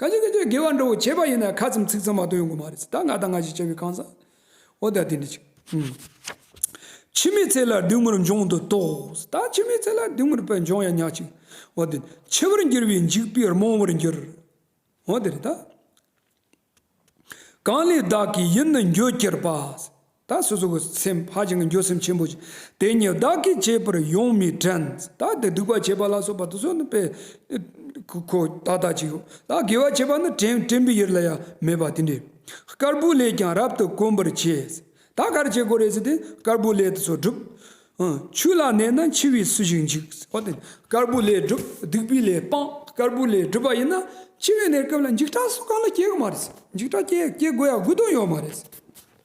Speaker 1: གང་ཅི་ཀ་ཅོ་དགེ་བ་འགྲོ་བོ་བྱེད་པ་ཡིན་ན་ཁ་ཙམ་ཚིག་ཙམ་མ་གཏོགས་ཡོང་གི་མ་རེད་ད་ང་དང་ང་ཞིག་བྱ་བའི་ཁང་བཟང་འོ་ད་དེ་འདྲ་ཅིག་འཆི་མེད་ཚེ་ལ་སྡུག་མུར་འབྱུང་དུ་དོགས་ད་འཆི་མེད་ཚེ་ལ་སྡུག་མུར་བས་འབྱུང་ཡ་ཉག་ཅིག་འོ་དེ་འཆི་བར་འགྱུར་བའི་འཇིགས་པས་རྨོངས་བར་འགྱུར་འོ་དེ་རེད་ད། གང་ལས་བདག་གིས་ཡིད་ནི་འགྱོད་གྱུར་པ། ད་སོ་སོ་གི་སེམས་ཧ་ཅང་གི་འགྱོད་སེམས་ཆེན་པོ་ཞིག་དེ་ཉིད་བདག་གིས་བྱས་པར་ཡོངས་མི་དྲན། ད་དེ་སྡིག་པ་བྱས་པ་ལ་སོགས་པ་དུ་སོ་ནི་པའི་གོ་ད་ད་ཅིག་ད་དགེ་བ་བྱས་པ་ནི་དྲན་དྲན་པའི་ཡུལ་ལ་ཡང་མེད་པ་དེ་འདྲའི་དཀར་པོའི་ལས་ཀྱང་རབ་ཏུ་དཀོན་པར་བྱས། ད་གར་བྱེད་དགོས་རེ་ཟིན་ཏེ་དཀར་པོའི་ལས་དུ་སོ་བསྒྲུབ། ཆུ་ལ་གནས་ན་འཆི་བས་སུ་ཞིག་འཇིག། དཀར་པོའི་ལས་བསྒྲུབ་སྡིག་པའི་ལས་སྤང་དཀར་པོའི་ལས་བསྒྲུབ་པ་ཡིན་ན་འཆི་བའི་གནས་སྐབས་ལ་འཇིགས་སྐྲག་སོགས་གང་ལ་སྐྱེ་གི་མ་རེད། འཇིགས་སྐྲག་སྐྱེ་སྐྱེ་དགོས་ཡ་དགོས་དོན་ཡོད་མ་རེད།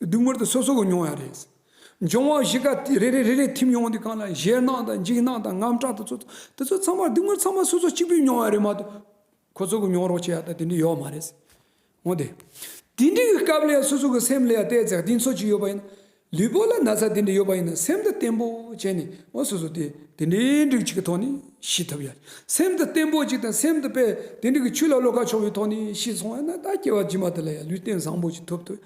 Speaker 1: བདུན་མར་དུ་སོ་སོ་གོ་མྱོང་ཡང་རེད། འབྱུང་བ་བཞི་ཀ་དེ་རེ་རེ་རེ་རེ་ཐིམ་ཡོང་དུས་གང་ལ་གཞལ་སྣང་དང་འཇིགས་སྣང་དང་རྔམ་སྐྲག་དུ་ཚོ་དེ་ཚོ་ཚང་མ་བདུན་མར་ཚང་མ་སོ་སོ་གཅིག་པུས་མྱོང་ཡང་རེད་མ་གཏོགས་ཁོ་ཚོ་གོ་མྱོང་རོགས་བྱེད་ཡ་ད་དེ་འདྲ་ཡོད་མ་རེད། འོང་དེ། དེ་འདྲའི་སྐབས་ལ་ཡང་སོ་སོ་གོ་སེམས་ལ་ཡང་བལྟས་ཚེ་དེ་ཚོ་ཅིག་ཡོད་པ་ཡིན། ལུས་པོ་ལ་ན་ཚ་དེ་འདྲ་ཡོད་པ་ཡིན་ན་སེམས་དང་བརྟན་པོ་བྱས་ནས་འོ་སོ་སོ་དེ་དེ་འདྲའི་འགྲིག་ཅིག་གི་ཐོག་ནས་ཤི་ཐུབ་ཡ། སེམས་དང་བརྟན་པོ་ཅིག་དང་སེམས་དེ་དཔེ་དེ་འདྲ་གི་ཆུ་ལ་བློ་ཁ་ཕྱོགས་པའི་ཐོག་ནས་ཤི་སོང་ཡ་ན་ད་སྐྱེ་བ་རྗེས་མ་དེ་ལ་ཡང་ལུས་བརྟན་བཟང་པོ་ཅིག་ཐོབ་ཐུབ་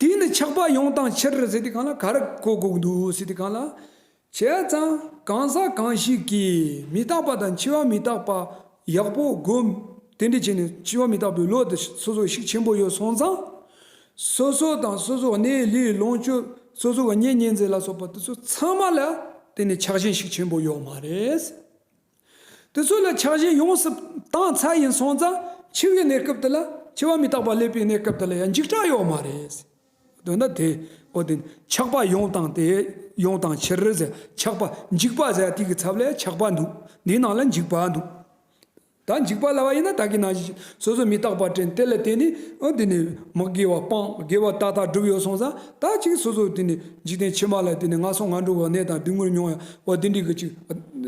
Speaker 1: དེ་ནི་ཆགས་པ་ཡོངས་དང་ཕྱིར་ཟེར་དུས་གང་ལ་གར་གོ་དགོས་འདུག་ཟེར་དུས་གང་ལ། བྱས་ཙང་གང་ཟག་གང་ཞིག་གིས་མི་རྟག་པ་དང་འཆི་བ་མི་རྟག་པ་ཡག་པོ་སྒོམ་དེ་འདྲ་བྱས་ནས་འཆི་བ་མི་རྟག་པའི་བློ་དེ་སོ་སོར་ཤུགས་ཆེན་པོ་ཡོད་སོང་ཙང། སོ་སོ་དང་སོ་སོའི་གནས་ལུས་ལོངས་སྤྱོད་སོ་སོའི་གཉེན་ཉེ་འཛིན་ལ་སོགས་པ་དེ་ཚོ་ཚང་མ་ལ་དེ་ནི་ཆགས་ཞེན་ཤུགས་ཆེན་པོ་ཡོད་མ་རེད། དེ་ཚོ་ལ་ཆགས་ཞེན་ཡོངས་སུ་བཏང་ཚར་ཡིན་སོང་ཙང་འཆི་བའི་གནས་སྐབས་དེ་ལ་འཆི་བ་མི་རྟག་པ་སླེབས་པའི་གནས་སྐབས་དེ་ལ་ཡང་འཇིགས་སྐྲག་ཡོད་མ་རེད། འདོད་ན་དེ་འོ་དེ་ཆགས་པ་ཡོངས་བཏང་སྟེ་ཡོངས་བཏང་ཕྱིར་ཟད་ཆགས་པ་འཇིགས་པ་ཟད་དུས་ཀྱི་ཚབ་ལས་ཆགས་པ་འདུག་འདིའི་ནང་ལ་འཇིགས་པ་འདུག་ད་འཇིགས་པ་ལ་བ་ཡིན་ན་ད་གི་ནང་བཞིན་སོ་སོ་མི་རྟག་པ་དྲན་དེ་ལ་བརྟེན་ནས་འོ་འདི་ནི་མི་དགེ་བ་སྤངས་དགེ་བ་ཏག་ཏག་བསྒྲུབས་ཡོད་སོང་ཙང། དག་ཅིག་སོ་སོར་དེ་ནི་འཇིག་རྟེན་ཕྱི་མ་ལ་དེ་ནི་ང་སོང་ང་འགྲོ་བའི་གནས་དང་དུས་ངུར་སྨྱོ་བའོ་དེ་འདྲི་གི་ཅིག།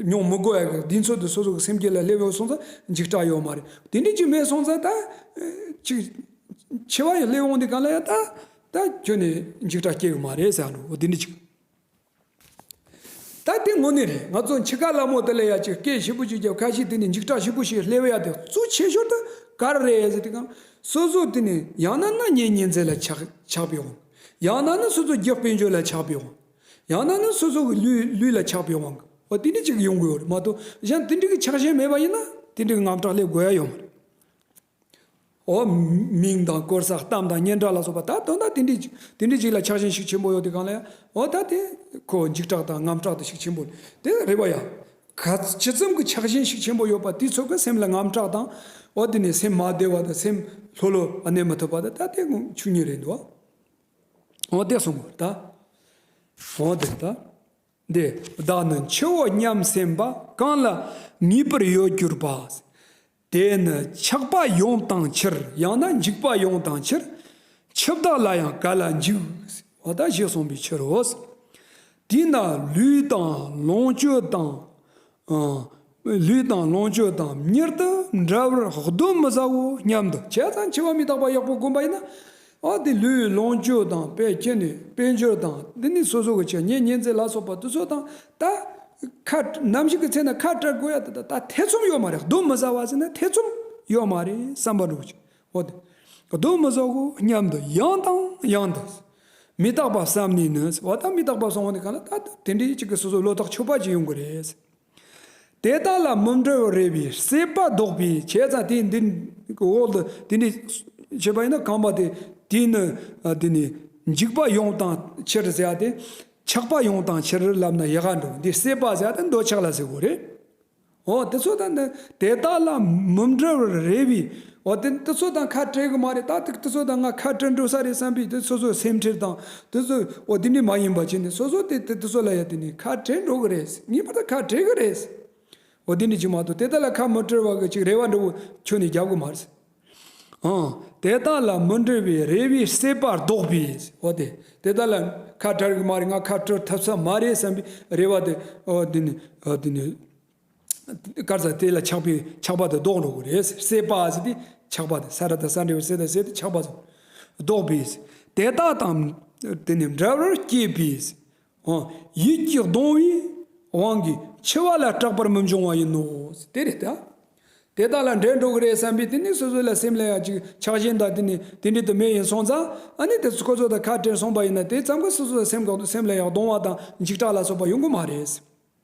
Speaker 1: སྨྱོ་མི་དགོས་ཡ་དེའི་ཚོད་དུ་སོ་སོ་གི་སེམས་བསྐྱེད་ལ་སླེབས་ཡོང་སོང་ཙང་འཇིག་སྐྲག་ཡོད་མ་རེད་དེ་འདྲི་གི་མེད་སོང་ཙང་དག་ཅིག། འཆི་བ་ཡང་སླེབས་ཡོང་དེ་ག་ལ་ཡ་དག་ཁྱོད་ནི་འཇིག་སྐྲག་སྐྱེ་གི་མ་རེད་ཟེར་ཡ་འགྲོ་དེ་འདྲི་གི། ད་ལྟའི་དངོས་གནས་རེད་ང་ཚོ་འཆི་ཁ་སླ་མོ་དེ་ལས་ཡ་ཆེ་སྐད་ཧྲིལ་པོ་ཅིག་རྒྱབ་ཁ་ཞིག་དེ་ནི་འཇིགས་སྐྲག་ཧྲིལ་པོ་ཞིག་སླེ་བ་ཡ་དེ་གཙོ་ཆེ་ཤོར་ད་ག་རེད་ཟེར་དེ་གང་སོ་སོ་དེ་ནི་ཡང་ན་ན་ཉེ་ཉེ་འཛེ་ལ་ཆགས་ཆགས་པའི་དབང་ཡང་ན་ནི་སོ་སོ་རྒྱག་དཔེ་འཇོག་ལ་ཆགས་པའི་དབང་ཡང་ན་ནི་སོ་སོ་གི་ལུས་ལུས་ལ་ཆགས་པའི་དབང་གི་དེ་འདྲི་ཅིག་ཡོང་དགོས་ཡོ་རེད་མ་གཏོགས་གཞན་དེ་འདྲི་གི་ཆགས་ཞེན་མེད་པ་ཡིན་ན་དེ་འདྲི་གི་ངམ་སྐྲག་སླེ་དགོས་ཡ་ཡོད་མ་རེད། འོག་མིང་དང་དཀོར་ཟ་གཏམ་དང་སྙན་གྲགས་ལ་སོགས་པ་དག་དོན་དག་དེ་འདྲའི་དེ་འདྲའི་ཞིག་ལ་ཆགས་ཞེན་ཞིག་ཆེན་པོ་ཡོད་དེ་གང་ལ་ཡང་འོ་ད་དེ་ཁོ་འཇིགས་སྐྲག་དང་རྔམ་སྐྲག་དེ་ཞིག་ཆེན་པོ་དེ་རེད་པ་ཡ། ག་ཇི་ཙམ་གྱི་ཆགས་ཞེན་ཞིག་ཆེན་པོ་ཡོད་པ་དེའི་ཚོད་ཀྱི་སེམས་ལ་རྔམ་སྐྲག་དང་འོ་དེ་ནས་སེམས་མ་བདེ་བ་དང་སེམས་ལྷོད་ལྷོད་བ་གནས་མ་ཐུབ་པ་དང་ད་དེ་ངོ་ཆུང་ཉིད་རེད་འདོད། འོ་དེ་སོང་ངོ་ད། འོ་དེ་ད། འདི་བདག་ནི་འཆི་འོ་སྙམ་སེམས་པ་གང་ལ་ངེས་པར་ཡོད་གྱུར་པ། དེ་ནི་འཆགས་པ་ཡོངས་དང་ཕྱིར་ཡང་ན་འཇིག་པ་ཡོངས་དང་ཕྱིར། འཆི་བདག་ལ་ཡང་ག་ལ་འཇིག། བ་ད་ཞེས་གསུངས་པའི་ཕྱིར་རོ། དེས་ན་ལུས་དང་ལོངས་སྤྱོད་དང། ལུས་དང་ལོངས་སྤྱོད་དང་མྱུར་དུ་འདྲ་བར་གདོན་མི་ཟའོ་སྙམ་དུ་བྱས་ཙང་འཆི་བ་མི་རྟག་པ་ཡོག་པོ་བསྒོམ་པ་ཡིན་ན། ཨ་ཏི་ལུས་ཡོད་ལོངས་སྤྱོད་དང་དཔལ་སྐྱེད་ནུས་དཔལ་འབྱོར་དང་འདི་ནི་སོ་སོ་གི་བྱས་ཉེས་ཉེས་འཛེག་ལ་སོགས་པ་དུ་ཚོད་དང་ད། ཁ། ནམ་ཞིག་གི་ཚེ་ན་ཁ་བཀྲ་དགོས་ཡ་དེ་དག་ད་ཐེ་ཚོམ་ཡོད་མ་རེད་གདོན་མི་ཟ་བ་ཟེར་ན་ཐེ་ཚོམ་ཡོད་མ་རེད་བསམ་པ་འགྲོ་ཅིག་འོ་དེ། གདོན་མི་ཟ་གོ་སྙམ་དུ་ཡང་དང་ཡང་དུ། མི་རྟག་པ་བསམ་ནས་ནི་ཟེར་བ་ད་མི་རྟག་པ་སོང་བ་ནི་གང་ལ་ད་དེ་འདྲའི་གཅིག་གི་སོ་སོ་བློ་ཐག་ཆོད་པ་ཅིག་ཡོང་གི་རེད། དེ་དག་ལ་མུན་སྤྲོ་བར་རེ་བའི་སྲེད་པ་བཟློག་པའི་བྱས་ཙང་དེ་འདི་འོག་ཏུ་དེ་འདི་ཞེས་པ་ཡིན་ན་གང་བ་དེ་དེས་ནི་འདི་ནི་འཇིགས་པ་ཡོངས་བཏང་ཕྱིར་ཟེར་བ་དེ་ཆགས་པ་ཡོངས་བཏང་ཕྱིར་ལབ་ན་ཡལ་ག་འགྲོ་འདི་སྲེད་པ་ཟེར་བ་དེ་འདོད་ཆགས་ལ་ཟེར་དགོས་རེད། འོ་དེ་ཚོ་དང་དེ་དག་ལ་མུན་སྤྲོ་བར་རེ་བའི་འོ་དེ་འདི་ཚོ་དང་ཁ་བྲལ་གི་མ་རེད་ད་དེ་ཚོ་དང་ང་ཁ་བྲལ་འགྲོ་ས་རེད་བསམ་པའི་དེ་སོ་སོའི་སེམས་ཁྲེལ་དང་དེ་ཚོ་འོ་དེ་འདྲས་མ་ཡིན་པ་ཆེ་ནས་སོ་སོ་དེ་དེ་ཚོ་ལ་ཡ་དེ་ནས་ཁ་བྲལ་འགྲོ་གི་རེད་ངེས་པར་དུ་ཁ་བྲལ་གི་རེད་འོ་དེ་འདྲས་ཅིག་མ་གཏོགས་དེ་དག་ལ་ཁ་མི་བྲལ་བ་གི་ཅིག་རེ་བ་འདྲ་བོ་ཁྱོན་ནས་རྒྱབ་གི་མ་རེད་ཨང་དེ་དག་ལ་མི་འབྲེལ་བའི་རེ་བའི་སྲེད་པ་བཟློག་པའི་འོ་དེ་དེ་དག་ལ་ཁ་བྲལ་གི་མ་རེད་ང་ཁ་བྲལ་ཐུབ་ས་མ་རེད་བསམ་པའི་རེ་བ་དེ་འོ་དེ་ནས་འོ་དེ་ནས། དཀར་ཟ་དེ་ལ་ཆགས་པའི་ཆགས་པ་དང་བཟློག་རོགས་རེད། སེ་པ་ཟེར་ཏེ་ཆགས་པ་དང་ས་ར་དང་ས་འབྲས་བུ་སེ་དང་སེ་དང་ཆགས་པ་ཟེར། བཟློག་པའི་ཟེར། དེ་དག་དང། དེ་ནི་འདྲ་བར་སྐྱེས་པའི་ཟེར། ཡིད་ཀྱི་གདུང་བའི་དབང་གིས་འཆི་བ་ལ་སྐྲག་པར་མི་འབྱུང་བ་ཡིན་ནོ། དེ་རེད་ད། དེ་དག་ལ་འདྲེན་འགྲོ་གི་རེད་བསམ་པས་དེ་ནི་སོ་སོ་ལ་སེམས་ལ་ཡང་ཅིག་ཆགས་གཞན་དག་དེ་ནི་དེ་འདྲའི་དུ་མས་ཡིན་སོང་ཙང། ཨ་ནི་དེ་ཁོ་ཚོ་དང་ཁ་བྲལ་སོང་པ་ཡིན་ན་དེ་ཙམ་གྱིས་སོ་སོ་ལ་སེམས་ལ་ཡང་གདུང་བ་དང་འཇིགས་སྐྲག་ལ་སོགས་པ་ཡོང་གི་མ་རེད།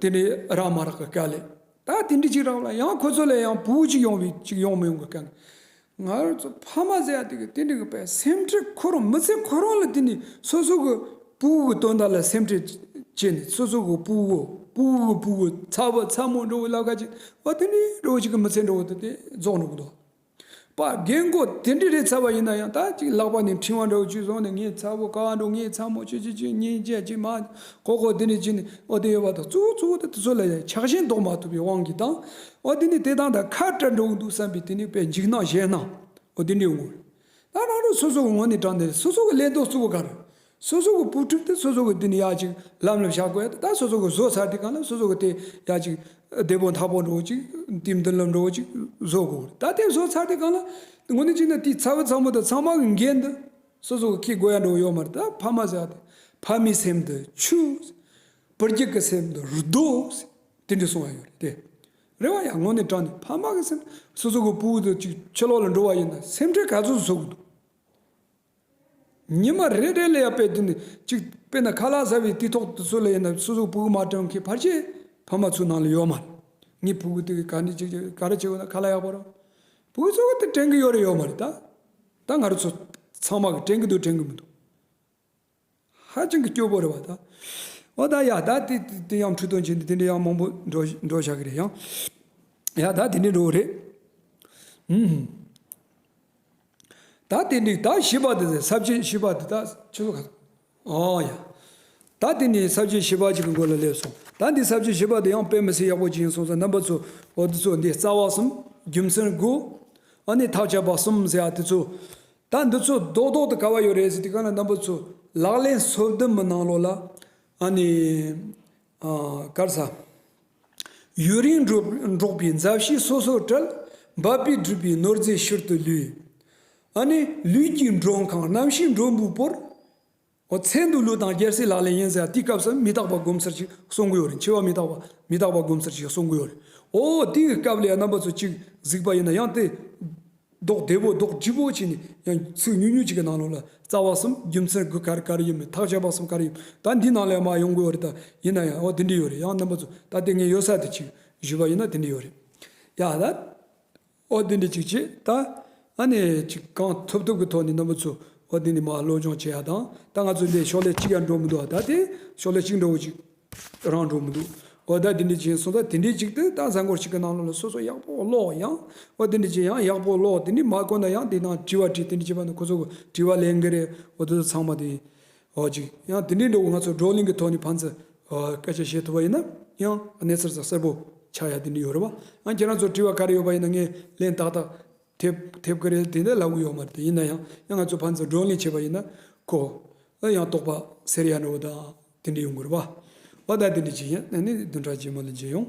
Speaker 1: དེ་ནི་རག་མ་རག་གི་སྐད་ལས། ད་དེ་འདྲི་ཅིག་རག་ལ་ཡང་ཁོ་ཚོ་ལས་ཡང་བུ་གཅིག་ཡོང་བའི་ཅིག་ཡོང་མི་ཡོང་གི་སྐད་ནི། ང་ཚོ་ཕ་མ་ཟེར་ཡ་དེ་གི་དེ་འདྲི་གི་པའི་སེམས་ཁྲེལ་ཁོ་རང་མི་ཚེ་ཁོ་རང་ལ་དེ་ནི་སོ་སོ་གི་བུ་གི་དོན་དག་ལ་སེམས་ཁྲེལ་བྱེད་ནི་སོ་སོ་གི་བུ་གི་བུ་གི་བུ་གི་ཚ་བ་ཚ་མོ་འགྲོ་བའི་ལ་ཁ་ཅིག་བ་དེ་འདྲི་བའི་ཅིག་གི་མི་ཚེ་འགྲོ་བ་དེ་རྫོགས་འགྲོ་གི་འདུག། པ་རྒན་མགོ་དེ་འདྲས་རེད་ཚར་བ་ཡིན་ན་ཡང་ད་ཅིག་ལག་པ་ནས་འཕྲིན་བ་འདྲ་བོ་བཅུ་བཟུང་ནས་ངས་ཚ་བོ་ག་འགྲོ་ངས་ཚ་མོ་ཆུ་ཆུ་ཆུ་གཉིད་ཆད་ཅིག་མ་ཁོག་ཁོག་དེ་འདྲས་བྱས་ནས་ཨོ་དེ་ཡོད་པ་དང་གཙུག་བོ་གཙུག་བོ་དེ་དེ་ཚོ་ལ་ཡང་ཆགས་ཞེན་བཟློག་མ་ཐུབ་པའི་དབང་གིས་དང་ཨོ་དེ་ནས་དེ་དང་དང་ཁ་བྲལ་འགྲོ་གི་འདུག་བསམ་པའི་དེ་ནས་པའི་འཇིགས་སྣང་ཞེད་སྣང་ཨོ་དེ་འདྲས་ངོ། ད་རང་རང་སོ་སོ་གི་ངོ་ནས་དྲངས་ནས་སོ་སོ་གི་ཀླད་རྡོག་གཙུག་བོ་ག་རེ། སོ་སོ་གི་པུ་ཁྲིམས་དེ་སོ་སོ་གི་དེ་ནི་ཡག་ཅིག་ལམ་ལ་བཞག་གོ་ཡ་ད་སོ་སོ་གི་བཟོ་ཚར་དེ་གང་ལ་སོ་སོ་གི་དེ་ཡག་ཅིག་བདེ་པོ་མཐའ་པོ་འགྲོ་ཅིག་དེ་མདུན་ལམ་འགྲོ་ཅིག་བཟོ་དགོ་ད་དེ་བཟོ་ཚར་དེ་གང་ལ་ངོ་ནས་ཅིག་ན་དེ་ཚ་བོ་ཚ་མོ་དང་ཚང་མ་གི་འགན་འདི་སོ་སོ་གི་ཁེ་དགོ་ཡ་འགྲོ་ཡོད་མ་རེད་ད་ཕ་མ་ཟེར་དེ་ཕ་མའི་སེམས་དེ་ཆུ། བུ་རྒྱུད་ཀྱི་སེམས་དེ་རྡོ། དེ་འདྲས་སོང་བ་ཡོད་རེད་དེ། རེད་བ་ཡ་ངོ་ནས་དྲང་ནས་ཕ་མ་གི་སེམས་སོ་སོ་གི་པུའུ་དེ་ཅིག་ཕྱི་ལོག་ལ་འགྲོ་བ་ཡིན་ན་སེམས་ཁྲལ་ག་ཚོད་བཟོ་གི་འདུག། ཉི་མ་རེ་རེ་ལ་ཡར་དཔེ་བདུན་གཅིག་དཔེ་ན་ཁ་ལག་ཟ་བའི་དུས་ཐོག་ཏུ་སུ་ལ་ཡིན་ན་སོ་སོའི་བུ་མ་དྲང་མཁན་ཕར་ཆེར་ཕ་མ་ཚོའི་ནང་ལ་ཡོད་མ་རེད། ངའི་བུ་གུ་དེ་ག་འདྲ་ཅིག་ཅིག་ག་རེ་བྱེད་དགོས་ན་ཁ་ལག་ཡག་པོ་རོགས། བུ་གུ་ཚོ་ག་དེ་དྲན་གི་ཡོད་རེད་ཡོད་མ་རེད་ད། ད་ང་རོ་ཚོ་ཚང་མ་གི་དྲན་གི་འདུག་དྲན་གི་མི་འདུག། ཧ་ཅང་གི་སྐྱོ་པོ་རེད་བ་ད། འོ་ད་ཡ་ད་དེ་དེ་ཡང་འཁྲུག་དོན་ཆེན་དེ་དེ་འདྲའི་ཡང་མང་པོ་འགྲོ་འགྲོ་བྱ་གི་རེད་ཡང། ཡ་ད་དེ་འདྲའི་འགྲོ་བ་རེད། ཧུམ། ད་དེ་འདྲའི་ད་ཤི་བ་དེ་ས་བཅད་ཤི་བ་དེ་ད་ཆུ་ཚོད་ག་ཚོད། ཨོ་ཡ། ད་དེ་ནི་ས་བཅད་ཤི་བ་གཅིག་གི་མགོ་ལ་སླེབས་སོང་ད་འདི་ས་བཅད་ཤི་བ་དེ་ཡང་དཔེ་མི་སྲིད་ཡག་པོ་ཅི་ཡིན་སོང་ཟེར་རྣམ་པ་ཚོ་འོ་དེ་ཚོ་འདི་རྩ་བ་གསུམ་རྒྱུ་མཚན་དགུ། ཨ་ནི་ཐག་ཆད་པ་གསུམ་ཟེར་ཡ་དེ་ཚོ། ད་འདི་ཚོ་རྡོག་རྡོག་ཏུ་ག་བ་ཡོད་རེད་ཟེར་དུས་གང་ལ་རྣམ་པ་ཚོས་ལག་ལེན་སོ་བདུན་མི་གནང་ལོ་ལ་ཨ་ནི་གར་ས་ཡུན་རིང་འགྲོགས་པའི་མཛའ་བཤེས་སོ་སོར་བྲལ་འབབ་པའི་སྦྲུལ་པའི་ནོར་རྫས་ཕྱིར་དུ་ལུས། ཨ་ནི་ལུས་ཀྱི་མགྲོན་ཁང་རྣམ་ཤེས་མགྲོན་བུ་པོར། ཨོ་ཚད་འདུག་ལུས་དང་རྒྱལ་སྲིད་ལག་ལེན་ཡིན་ཟེར་དེའི་སྐབས་སུ་མི་རྟག་པ་སྒོམ་ཚར་ཞིག་གསུང་གི་ཡོད་རེད་འཆི་བ་མི་རྟག་པ་མི་རྟག་པ་སྒོམ་ཚར་ཞིག་གསུང་གི་ཡོད་རེད་ཨོ་དེའི་སྐབས་ལས་རྣམ་པ་ཚོ་གཅིག་གཟིགས་པ་ཡིན་ན་ཡང་དེ། རྡོག་བདེ་པོ་རྡོག་སྒྲིལ་པོ་བྱས་ནས་ཡང་ཚིག་ཉུང་ཉུང་ཅིག་གི་ནང་ལོགས་ལ་རྩ་བ་གསུམ་རྒྱུ་མཚན་དགུ་ག་རེ་ག་རེ་ཡིན་མིན་ཐག་བཅད་པ་གསུམ་ག་རེ་ཡིན་ད་འདིའི་ནང་ལས་མ་ཡོང་གི་ཡོད་རེད་ད་ཡིན་ན་ཡང་ཨོ་དེ་འདྲས་ཡོད་རེད་ཡང་རྣམ་པ་ཚོ་ད་དེ་ངས་ཡོད་ས་དེ་གཅིག་བཞུགས་པ་ཡིན་ན་དེ་འདྲས་ཡོད་རེད་ཡ་ད། ཨོ་དེ་འདྲས་ཅིག་བྱེད་ད། ཨ་ནི། ཅིག་གང་ཐུབ་ཐུབ་ཀྱི་ཐོག་ནས་རྣམ་པ་ཚོ་ཨོ་དེ་འདྲས་མ་བློ་སྦྱོང་བྱེད་ཡ་དང་ད་ང་ཚོ་འདས་ཕྱོགས་ལས་གཅིག་ཡར་འགྲོ་མི་འདུག་ཨ་ད་དེ་ཕྱོགས་ལས་གཅིག་འགྲོ་གི་ཅིག་རང་འགྲོ་མི་འདུག་ཨོ་ད་དེ་འདྲས་ཅིག་སོང་ད་དེ་འདྲས་ཅིག་ཏུ་ད་གཟའ་འཁོར་ཞིག་གི་ནང་ལོགས་ལ་སོ་སོ་ཡག་པོ་ཀློག་ཡང་ཨོ་དེ་འདྲས་ཅིག་ཡང་ཡག་པོ་ཀློག་དེ་འདྲས་མ་གོ་ན་ཡང་དེ་ནང་དྲི་བ་དྲིས་དེ་འདྲས་བྱེད་པ་ནི་ཁོ་ཚོ་གི་དྲི་བ་ལས་འགལ་རེད་ཨོ་ད་ཚང་མ་དེ་ཨོ་ཅི། ཡང་དེ་འདྲའི་འགྲོ་བ་ང་ཚོ་བགྲོ་གླེང་གི་ཐོག་ནས་ཕན་ཚུན་སྐད་ཆ་བཤད་ཐུབ་པ་ཡིན་ན་ཡང་གནས་ཚུལ་གསལ་པོ་ཆགས་ཡ་དེ་འདྲ་ཡོད་རེད་བ། ཡང་ཁྱེད་རང་ཚོར་དྲི་བ་ག་རེ་ཡོད་པ་ཡིན་ན་ངས་ལན་ཏག་ཏག་ཐེབས་ཐེབས་ཀྱི་རེད་དེ་འདྲ་ལབ་གི་ཡོད་མ་རེད་ཡིན་ན་ཡང་ཡང་ང་ཚོ་ཕན་ཚུན་བགྲོ་གླེང་བྱས་པ་ཡིན་ན་ཁོ་ཨ་ཡང་ལྟོགས་པ་ཟེར་ཡ་འདྲ་བོ་དང་དེ་འདྲ་ཡོང་གི་རེད་བ། ཨོ་ད་དེ་འདྲ་ཅིག་ཡིན་ན་ནི་བདུན་ཕྲག་རྗེས་མ་ལ་མཇལ་ཡོང།